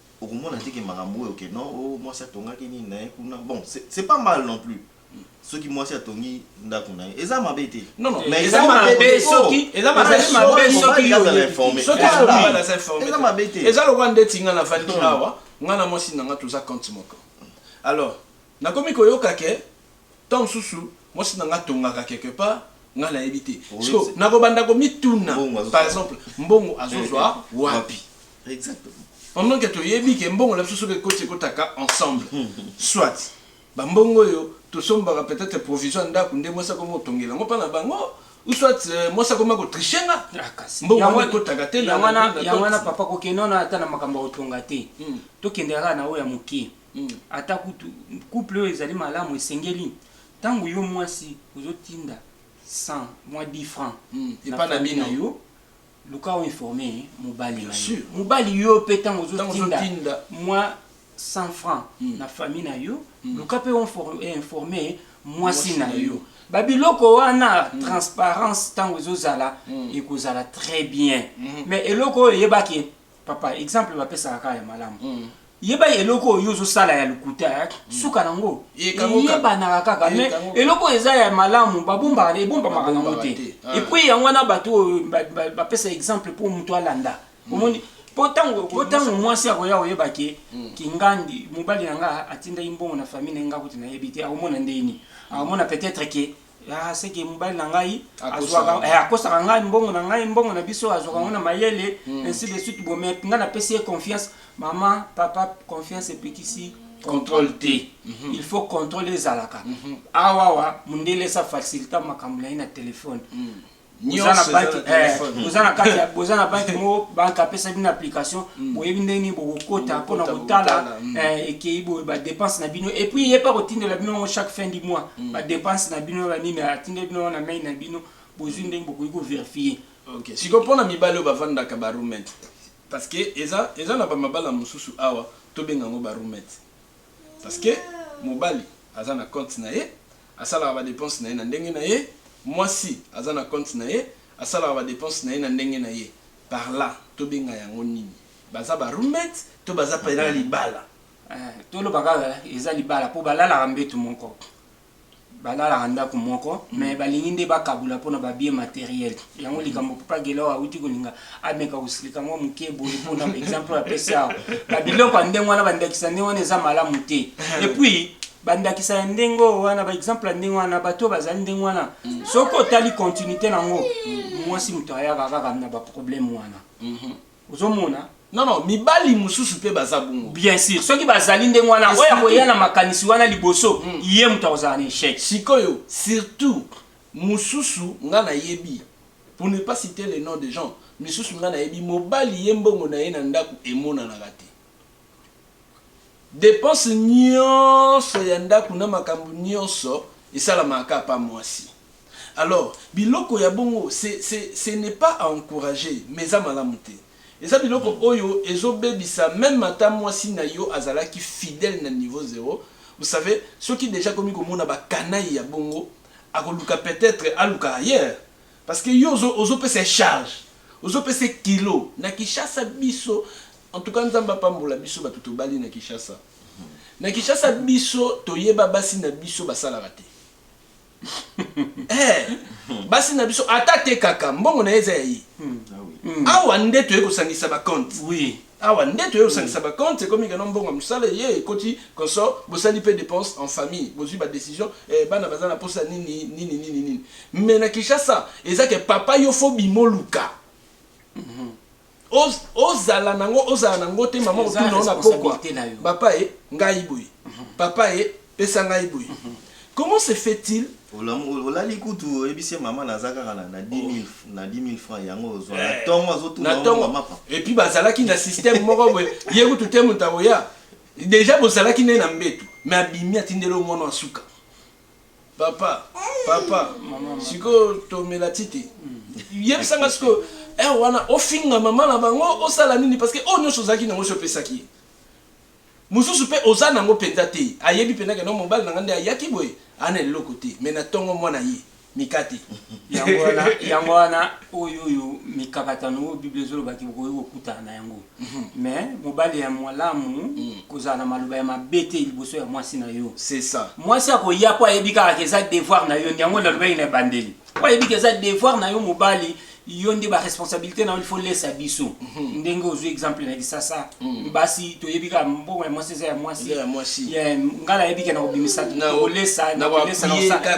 okomona te ke makambo oyo ke non oh mwasi atongaki nini na ye kuna bon c'est pas mal non plus soki mwasi atongi ndako na ye eza mabe te non non mais eza mabe soki eza mabe soki soki yo na informer soki soki ba na informer eza mabe te eza lokwa ndeti nga na vandi awa nga na mwasi na nga toza compte moko alors Nakomi koyoka que temps mususu mwasi na nga atongaka quelque part nga nayebi te. Sikoyo nakobanda komituna par exemple mbongo azozwa wapi? Pendant que toyebi que mbongo na biso soki ekoti ekotaka ensemble. Soit ba mbongo oyo tosombaka peut etre provision ya ndaku nde mwasi akomi kotongela yango epa na bango ou soit mwasi akomi ko tricher nga mbongo wana ekotaka te na. Yango wana papa kokende wana ata na makambo ya kotonga te tokendaka kaka na oyo ya mukie. Ata kutu couple oyo ezali malamu esengeli tango yo muasi ozo tinda 100 mua 10 franc na famille na yo luka o informe mobali na yo mobali yo pe tango ozo tinda mua 100 franc na famille na yo luka pe o informe muasi na yo ba biloko wana transparence tango ezo zala ekozala tres bien mais eloko oyo yeba ke Papa exemple bapesaka kaka ya malamu. Yeba eloko oyo ozo sala ya lokuta eh, suka nango. Eyebanaka kaka mais eloko eza ya malamu babombaka na ebombamaka nango te. Ah. Et puis yango wana bato oyo bapesa exemple mpo moto alanda. Mm. Omoni mpo ntango mpo ntango mwasi akoya koyeba ke mm. kingandi mobali na nga atindaki mbongo na famille na nga kuti nayebi te akomona ndeni akomona peut-être ke ya seke mobali na ngai azwaka eh, akosaka ngai mbongo na ngai mbongo na biso azwaka yango na mm. mayele mm. ainsi de suite bo mais ngai napesi ye confiance mama papa confiance epekisi contrôle te mm -hmm. il faut contrôle ezalaka mm -hmm. awawa mondele esa facilita makambo na ye na telefone mm. boza na banki eh, boza na kati ya boza na banki moko banki apesa bino application mm. boyebi ndenge nini bokokota mpo na kotala mm. eh, ekei boye badepense na bino epuis ye mpe akotindela bino yango chaque fin du mois mm. badepense na bino na nini atindeli bino na mai na bino bozwi ndenge bokoki koverifie siko mpo na mibali oyo bafandaka barumet parce que eza eza na bamabala mosusu awa tobenga yango barumet parce que mobali aza na compte na ye Asalaka ba depenses na ye na ndenge na ye, mwasi aza na compte na ye, asalaka ba depenses na ye na ndenge na ye. Par là, tobenga yango nini? Baza ba roommates to baza pena libala? Eh, toloba kaka eza libala po balalaka mbetu moko, balalaka ndaku moko mais balingi nde bakabola pona ba biens materiels. Yango likambo Papa Gelor awuti kolinga ameka kosilika mwa muke boye po na ba exemples oyo apesi awa. Ba biloko ya ndenge wana, ba ndakisa ya ndenge wana eza malamu te. Et puis, bandakisa ya ndenge oyo wana baexemple ya ndenge wana bato oyo bazali ndenge wana mm. soki otali continuité na yango mm. mwasi moto ayaka kaka na baproblème wana mm-hmm. ozomona non non mibali mosusu mpe baza bongo bien sûr soki bazali ndenge wana oyo akoya na makanisi wana liboso mm. ye moto akozala na échec sikoyo surtout mosusu nga nayebi pour ne pas citer le nom de gens misusu nga nayebi mobali ye mbongo na ye na ndako emonanaka te Depense nionso ya ndaku na makambu nionso esalamaka kaka pa mwasi. Alors biloko ya bongo ce n'est pas à encourager mais eza malamu te. Eza biloko oyo ezo bebisa meme ata mwasi nayo azalaki fidèle na niveau zero. Vous savez soki dejà akomi komona ba canaille ya bongo akoluka peut-etre aluka ailleurs. Parce que yo ozo ozo pesa ye charge ozo pesa ye kilo na kishasa biso en tout cas nzambe apambola biso batu tobali na kishasa na kishasa biso toyeba basi na biso basalaka te eh basi na biso ata atekaka mbongo na ye eza ya ye hmm. ah awa nde toye kosangisa ba compte oui Awa nde toye kosangisa ba compte ekomi keno mbongo ya musala eye ekoti consort bosali pe depense en famille bozui ba decision eh bana baza na posa nini nini nini nini mais na Kinshasa eza ke papa yo faut obima oluka ozala nango ozala nango te maman otuna yo na pokwa papa eh ngai boye papa eh Pesa ngai boye comment se fait il. Olali kutu oyebisi ye maman naza kaka na 10000 francs yango ozua na eh, tongo azo tuna yo maman mapa. Et puis bazalaki na système moko boye ye kutu te mutu akoya deja bozalaki nde na mbetu me abimi atindeli yo mwana asuka papa papa sikoyo tomela tite yebisanga sikoyo eh, wana ofinga mama na bango osala nini parce que oyo oh, nyonso ozalaki nango so opesaki ye Mususu pe oza nango penza te ayebi penza ke non mobali nanga nde ayaki boye aa na eloko te mais na tongo mwana ye mikate. Yango wana yango wana oyo oyo mikakatano oyo bible ezoloba ke bokoki kokutana na yango mais mobali ya malamu kozala na maloba ya mabe te liboso ya mwasi na yo C'est ça. mwasi akoya po ayebi kaka ke eza devoir na yo yango nalobaki na ebandeli po ayebi ke eza devoir na yo mobali yo nde ba responsabilité na yo il faut lesa biso mhm. ndenge ozwi exemple na kisasa mhm. basi toyebi kaka mbongo ya mwasi eza ya mwasi ngai nayebi ke na kobimisa kolesa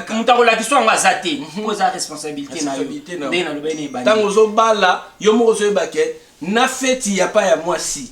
moto akolakisa yango aza te mpo mhm. eza responsabilité na yo ndenge nalobaki na ebandi ntango ozobala yo moko ozoyeba ke na feti ya pa ya mwasi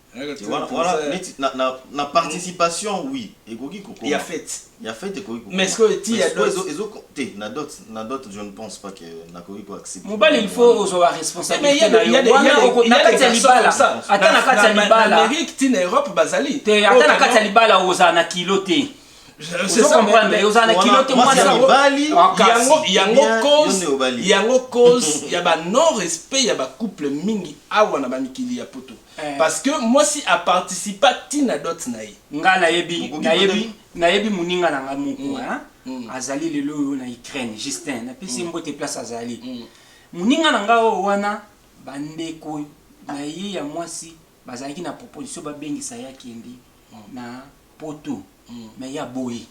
na participation oui ekoki kokoma ya fete ya fete ekoki kokoma mais sikoyo ti ya dot ezo te na dot na dot je ne pense pas que nakoki ko accepter mobali il faut ozwa ba responsabilité na yo wana na kati ya libala ata na kati ya libala na Amérique ti na Europe bazali te ata na kati ya libala ozala na kilo te yango cause ya ba non respect ya ba couple mingi awa na ba mikili ya poto Eh. Parce que mwasi a participa ti na dot na ye. Nga nayebi Okoki nayebi peut-être- nayebi moninga na nga moko Mm. hein, Mm. azali lelo oyo na Ukraine Justin napesi ye mbote place azali Mm. moninga na nga oyo wana bandeko na ye ya mwasi bazalaki na proposition babengisa ye akende na poto Mm. mais ye aboyi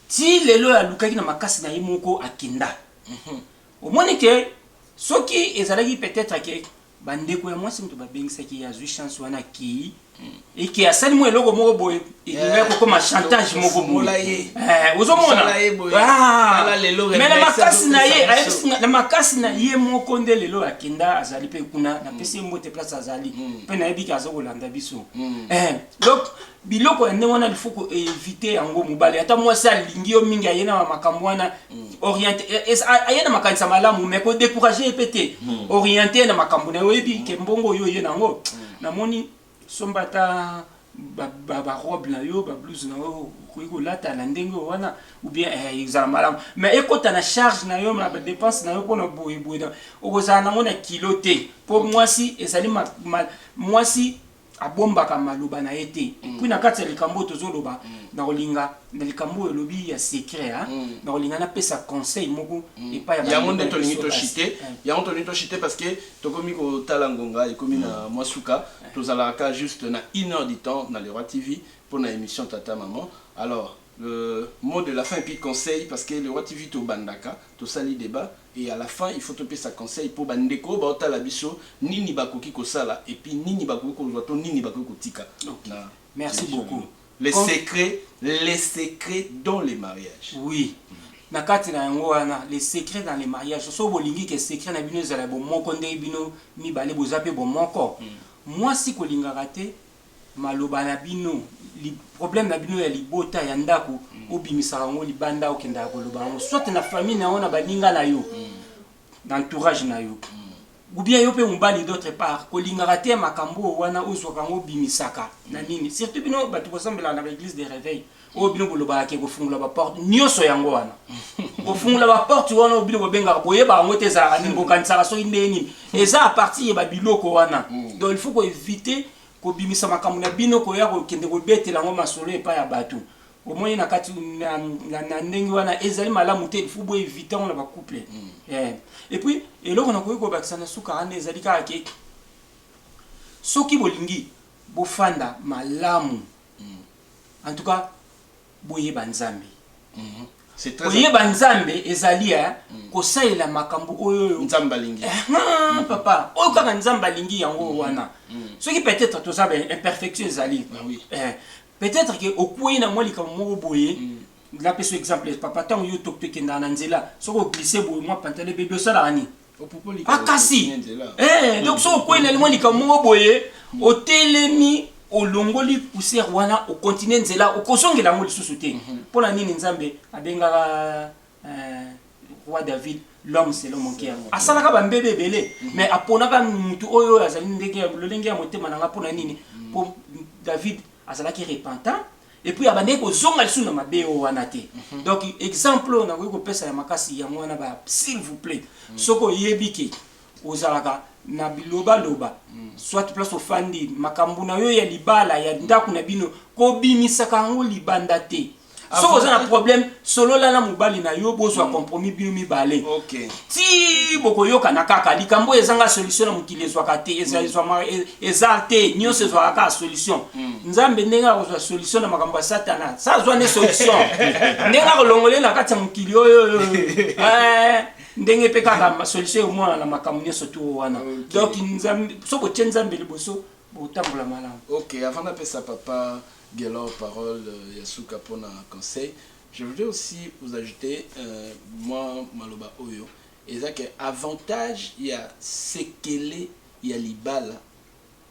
ti lelo oyo alukaki na makasi na ye moko akenda Mhm. omoni ke soki ezalaki peut-être ke Ba ndeko ya mwasi mutu ba bengisaki ye azui chance wana akeyi et que asali mwa eloko moko boye elingaki kokoma chantage moko boye Eh, ozomona Osala ye boye. Ah. Tala lelo Mais na remix makasi na ye azopesa ayebisi biso. nga- na makasi na ye moko nde lelo akenda azali mpe kuna napesi ye mbote place azali mpe nayebi ke aza kolanda biso Eh, donc biloko ya ndenge wana il faut ko éviter yango mobali ata mwasi alingi yo mingi aye na makambo wana mm. oriente eh, eh, ah, aye na makanisa malamu mais ko décourager ye mpe te mm. oriente na makambo na yo oyebi ke mbongo oyo oye na yango mm. namoni somba ata barobe na yo bablouse na yo okoki kolata na ndenge oyo wana oubien eh, ezala malamu mais ekota na charge na yo na badepense na yo mpona boyeboye okozala nango na kilo te mpo mwasi ezali mwasi abombaka maloba na ye te mm. puis na kati ya likambo oyo tozoloba mm. nakolinga na likambo oyo olobi ya secret hein, mm. nakolinga napesa conseil moko mm. epai ya yango nde tolingi toshite eh. yango tolingi toshite parce que tokomi kotala ngonga ekomi na mm. mwa suka eh. tozalaka ka juste na une heure du temps na leroy tv mpo na émission tata maman alors le mot de la fin puis conseil parce que leroy tv tobandaka tosali débat Et à la fin il faut topesa conseil po ba ndeko oyo bao tala biso nini ba koki ko sala et puis nini ba koki kozua to nini ba koki ko tika na Merci beaucoup. Les secrets les secrets dans les mariages. Oui na kati na yango wana les secrets dans les mariages soki bo lingi ke secret na bino ezala ya bo moko ndenge bino mibale boza pe bo moko muasi ko lingaka te Maloba na bino, problème na bino ya libota ya ndako mm. obimisaka yango libanda okendaka koloba yango soit na famille na yango na baninga na yo mm. na entourage na yo mm. ou bien yo mpe mobali d'autre part kolingaka te makambo oyo wana ozwaka yango obimisaka na nini surtout bino bato bosambelaka na baeglise de réveil oyo bino bolobaka ke kofungola baporte nyonso yango wana kofungola baporte wana oyo bino bobengaka boyebaka yango te ezalaka nini bokanisaka soki ndenge nini eza apartir ya babiloko wana mm. donc il faut koevite kobimisa makambo na bino koya kokende kobetela yango masolo epai ya bato omoni na kati na, na, na ndenge wana ezali malamu te ilfo bo évite yango na bacouple mm. eh. epuis eloko nakoki kobakisa na suka wana ezali kaka ke soki bolingi bofanda malamu mm. En tout cas, boyeba Nzambe. Mm -hmm. C'est très koyeba Nzambe ezali ya eh, mm. kosalela makambo oyo oyo Nzambe alingi. Eh, mm -hmm. Papa, oyo kaka Nzambe alingi yango mm -hmm. wana. Mm -hmm. Soki peut-être toza ba imperfection ezali. Ah, oui. eh, peut-être que okueyi na mwa likambo moko boye. Mm -hmm. Napesa exemple papa ntango yo tokende na nzela soki oglise boye mwa pantale bebe osalaka nini? makasi eh, donc soki okwei na limwa likambo moko boye otelemi olongoli poussière wana okontinue nzela okozongela yango lisusu te mhm. mpo na nini nzambe abengaka eh, roi david l'homme selon mon cœur asalaka bambebe ebele mhm. mais aponaka motu oyo oyo azali ndenge lolenge ya motema na ngai mpo na nini mpo mhm. david azalaki repentant epuis abandaki kozonga lisusu na mabe oyo wana te donc exemple oyo nakoki kopesa ya makasi yango wana ba s'il vous plait soki oyebi ke ozalaka na bilobaloba soit place ofandi makambo na yo ya libala ya ndako na bino kobimisaka yango libanda te soki oza na problème solola na mobali na yo bozwa mm. compromis bino mibale okay. ti bokoyokana kaka likambo oyo ezanga solution na mokili ezwaka te mm. eza te nyonso ezwaka kaka solution mm. nzambe ndenge akozwa solution na makambo ya satana sa azwa nde solution ndenge akolongole na kati ya mokili oyo eh, ndenge mpe kaka solution ekomona na makambo nyonso to wana donc soki otie nzambe liboso botambola malamu ok avant napesa papa Guelor parole ya suka pona conseil je voudrais aussi vous ajouter mwa maloba oyo eza ke avantage ya sekele ya libala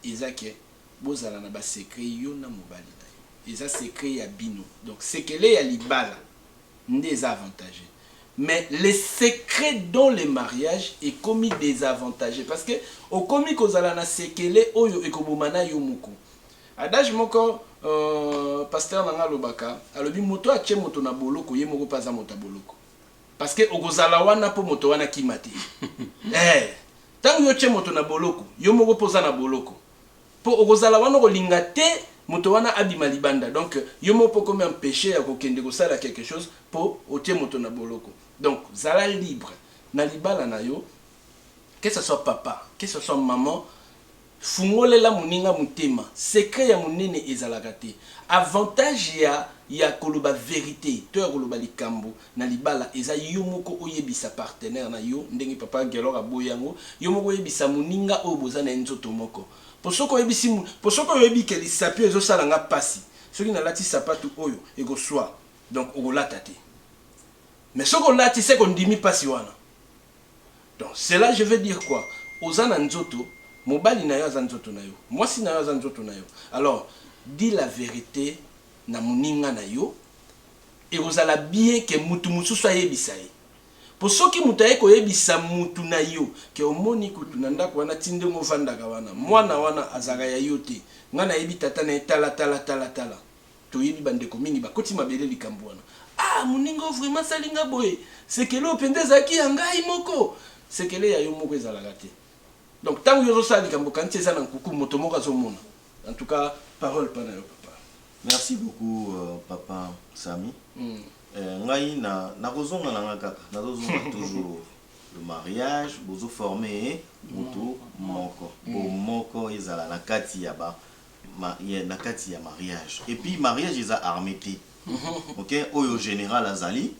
eza ke bozala na ba secret yo na mobali na yo eza secret ya bino donc sekele ya libala nde eza avantage mais le secret dans le mariage ekomi desavantage parce que okomi kozala na sekele oyo ekoboma na yo moko Adage moko pasteur na nga alobaka alobi moto atie moto na boloko ye moko pe aza moto ya boloko parce que okozala wana po moto wana akima te eh tangu yo otie moto na boloko yo moko pe oza na boloko po okozala wana okolinga te moto wana abima libanda donc yo moko pe okomi empeche ya kokende kosala quelque chose po otie moto na boloko donc zala libre na libala na yo que ce soit papa que ce soit maman Fungolela moninga motema. Secret ya monene ezalaka te. Avantage ya ya koloba verite to ya koloba likambo na libala eza yo moko oyebisa partenaire na yo ndenge papa Guelor aboyi yango. Yo moko oyebisa moninga oyo boza na ye nzoto moko. Po soki oyebisi mo po soki oyebi ke lisapi oyo ezo sala nga pasi, soki na lati sapatu oyo eko swa donc oko lata te. Mais soki olati seke ondimi pasi wana. Donc cela je veux dire quoi? Oza na nzoto, mobali nayo aza nzoto nayo, mwasi nayo aza nzoto nayo, alors dit la verite na muninga nayo, ekozala bien que mutu mususu ayebisa ye, po soki mutu aye koyebisa mutu nayo que omoni kutu na ndaku wana ti ndenge ofandaka wana, mwana wana azalaka ya yo te, nga nayebi tata naye tala tala tala tala. Toyebi ba ndeko mingi bakoti mabele likambu wana ah muninga oyo vraiment asali nga boye sekele oyo penza ezalaki ya ngai moko sekele ya yo moko ezalaka te donc tangu yo ozo sala likambu okanisi eza na nkuku moto moko azo mona en tout cas parole pa na yo papa. Merci beaucoup papa Samy ngai na nako zonga na nga kaka nazo zonga toujours le mariage bozo forme mutu moko bo moko ezala na kati ya ba Ma, ya, na kati ya mariage. Et puis mariage eza armee te. Ok? Oyo general azali,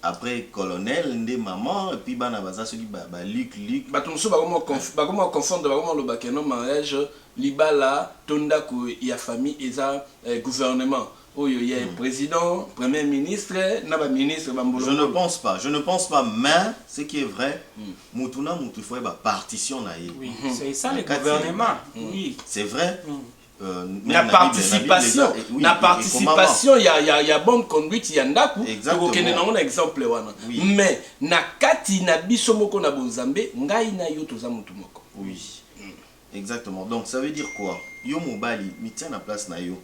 après colonel, nde maman, et puis bana baza soki ba, ba Luc, Luc. Bato mosusu bakoma ko, bakoma ko confondre, bakoma koloba que non mariage, libala to ndako ya famille eza eh, gouvernement. Oyo ya president, premier ministre na ba ministre ba mbulungulu. Je ne pense pas, je ne pense pas mais ce qui est vrai mutu na mutu il faut ayeba partition na ye. Oui, c'est ça le gouvernement. Oui. C'est vrai. Euh, na participation na participation ya, ya, ya bonne conduite ya ndako tokokende nango na exemple wana oui. mais na kati na biso moko na bonzambe ngai na yo toza motu moko oui. Exactement donc ça veut dire quoi yo mobali mitia na place na yo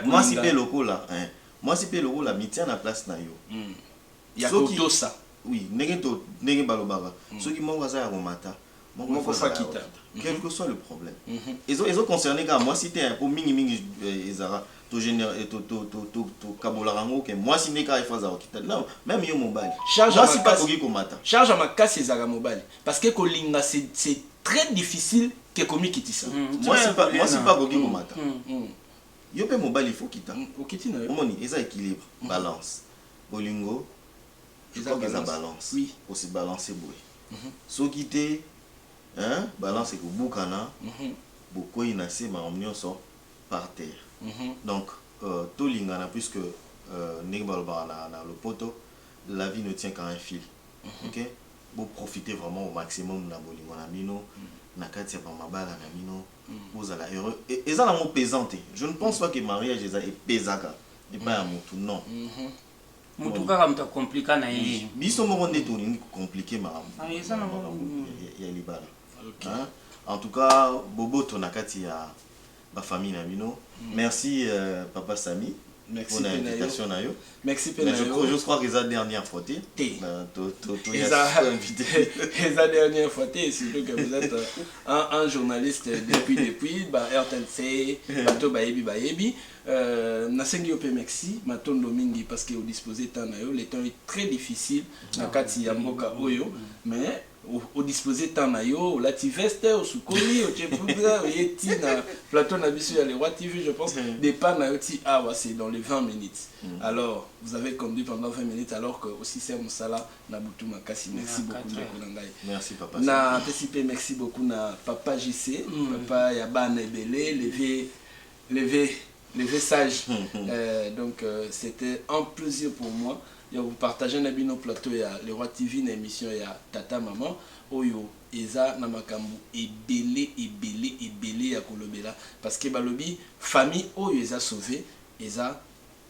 muasi pe lokola eh muasi pe lokola mitia na place na yo ya kotosa oui ndenge to ndenge balobaka soki moko aza ya komata moko fa kita quel que soit le problème ezo ezo concerner kaka muasi te hein po mingi mingi ezaka to genera to to to to to kabolaka yango ke muasi nde kaka il faut azala kita non meme yo mobali muasi pe akoki komata charge ya makasi ezalaka mobali Parce que kolinga c'est très difficile que komikitisa. Mwasi mpe akoki komata. Yo mpe mobali il faut okita. Omoni eza equilibre, balance. Bolingo je crois que eza balance. Ko se balancer boye. Soki te hein balance ekobukana bokweyi na se makambo nionso par terre. Donc tolingana puisque ndenge balobaka na lopoto la vie ne tient qu'à un fil ok. Bo profiter vraiment au maximum na bolingo na bino na kati ya ba mabala na bino bozala heureux et eza nango pesant te je ne pense pas que mariage eza epesaka epai ya mutu non mutu kaka mutu a compliqua na ye biso moko nde tolingi ko compliquer makambo ya libala en tout cas boboto na kati ya ba famille na bino merci papa Samy pona invitation na yo merci pe na yo je crois que eza dernière fois te te to to to eza invité eza dernière fois te surtout que vous êtes un, un journaliste depuis depuis ba RTNC bato bayebi bayebi euh, nasengi yo pe merci matondo mingi parce que odisposer temps na yo le temps est très difficile na kati ya mboka oyo mais o disposer temps na yo, olati veste, osukoli, otie poudre, oye ti na plateau na biso ya Le Roi TV, je pense mm. départ na yo ti awa c'est dans les 20 minutes. Mm. Alors, vous avez conduit pendant 20 minutes alors que aussi c'est musala na butu makasi. Merci na beaucoup ndeko na ngai. Merci papa. Na pesi pe merci beaucoup na papa JC, mm. papa ya bana ebele, levé levé Le vrai sage euh, donc euh, c'était un plaisir pour moi ya kopartage na bino plateau ya Le Roi TV na émission ya Tata Maman oyo eza na makambo ebele ebele ebele ya kolobela parce que balobi famille oyo eza sauve eza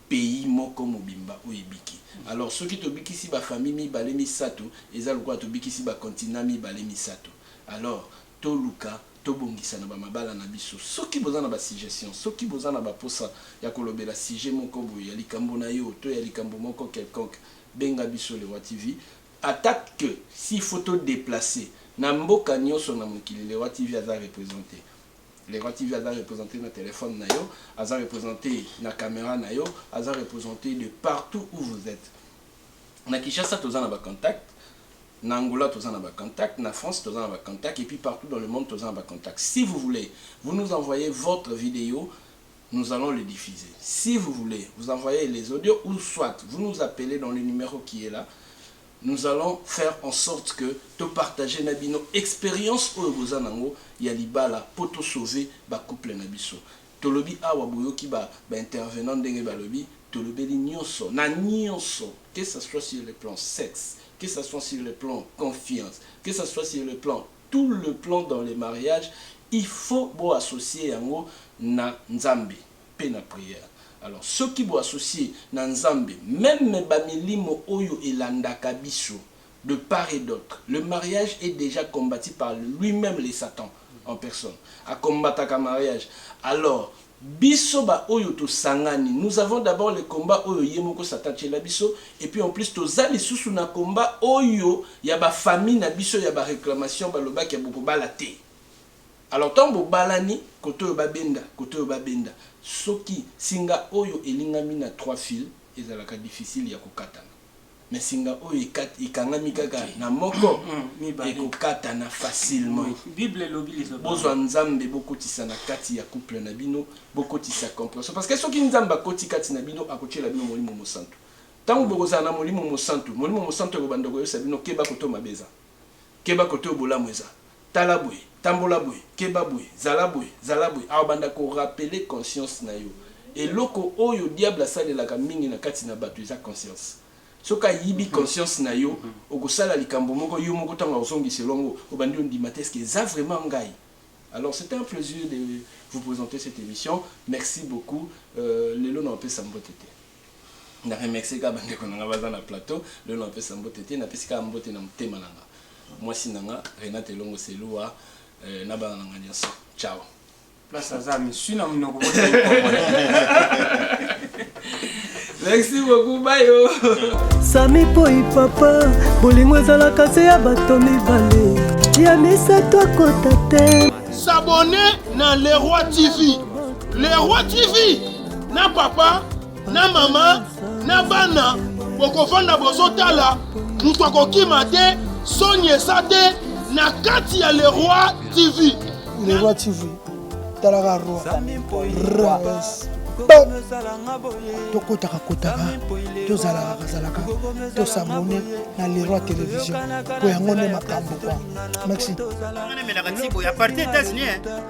pays moko mobimba oyo ebiki alors soki tobikisi ba famille mibale misato eza lokola tobikisi ba continent mibale misato alors toluka Tobongisa na ba mabala na biso. Soki boza na ba suggestions, soki boza na ba posa ya kolobela sujet moko boye ya likambo na yo to ya likambo moko quelconque, benga biso Le Roi TV. Ata que s'il faut to deplacer na mboka nioso na mokili, Le Roi TV aza representer. Le Roi TV aza representer na telephone na yo, aza representer na camera na yo, aza representer de partout où vous etes. Na Kinshasa toza na ba contacts. Na Angola toza na ba contact, na France toza na ba contact et puis partout dans le monde toza na ba contact. Si vous voulez vous nous envoyez votre video nous allons le diffuser. Si vous voulez vous envoyez les audios ou soit vous nous appelez dans le numero qui est là nous allons faire en sorte que to partager na bino experience oyo boza nango ya libala po to sauver ba couple na biso. Tolobi awa boyoki ba ba intervenants ndenge balobi tolobeli nionso na nionso que ça soit sur le plan sexe que ça soit sur le plan confiance que ça soit sur le plan tout le plan dans le mariage il faut bo associer yango na nzambe pe na prière alors soki bo associer na nzambe meme ba milimo oyo elandaka biso de part et d'autre le mariage est dejà combati par lui meme le satan en personne a combataka mariage alors biso ba oyo to sangani nous avons d'abord le combat oyo ye moko satan atiela biso et puis en plus toza lisusu na combat oyo ya ba famille na biso ya ba reclamation ba lobaki ya boko bala te alors tango bo balani kote oyo ba benda kote oyo ba benda soki singa oyo elingami na trois fil ezalaka difficile ya ko katana. Mais singa oyo ekangami kaka na moko ekokatana facilement. Bozwa Nzambe bokotisa na kati ya couple na bino, bokotisa comprehension parce que soki Nzambe akoti kati na bino akotiela bino Molimo Mosantu. Tango bokozala na Molimo Mosantu, Molimo Mosantu akobanda koyebisa bino keba kote oyo mabe eza, keba kote oyo bolamu eza. Tala boye, tambola boye, keba boye, zala boye, zala boye. Akobanda ko rappeler conscience na yo. Eloko oyo diable asalelaka mingi na kati na batu eza conscience. Soki ayibi conscience na yo, okosala likambo moko, yo moko tango akozongisela yango, obandi ondima te, est-ce que eza vraiment ngai? Alors, c'etait un plaisir de vous presenter cette emission. Merci beaucoup. Lelo nakopesa mbote te. na remercie kaka bandeko na nga baza na plateau lelo napesa mbote te napesi kaka mbote na motema na nga mwasi na nga renate elongo selua eh, na bana na nga nyonso ciao place aza misui na monoko merci beaucoup bayo sami poi papa bolingo ezalaka se ya bato mibale ya misato akota te sabone na leroi tv leroi tv na papa na mama na bana bokovanda bozotala moto akokima te soni eza te na kati ya leroi tv leroi tv talaka roi rebes tokotaka kotaka tozalaka kazalaka tosabone na leroi television mpo yango nde makambo kwa maxi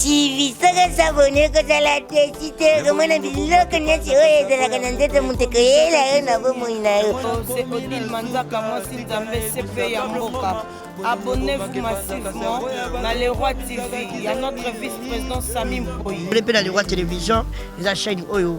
TV saka sabone kozala te site komona biloko nyonso oyo ezalaka na nzoto moto koyela yo na bomoi na yo se odile manzaka mwasi nzambe sepe ya mboka abonnez-vous massivement na le roi tv ya notre vice-président sami mpoyi mpe na le roi télévision eza chaîne oyo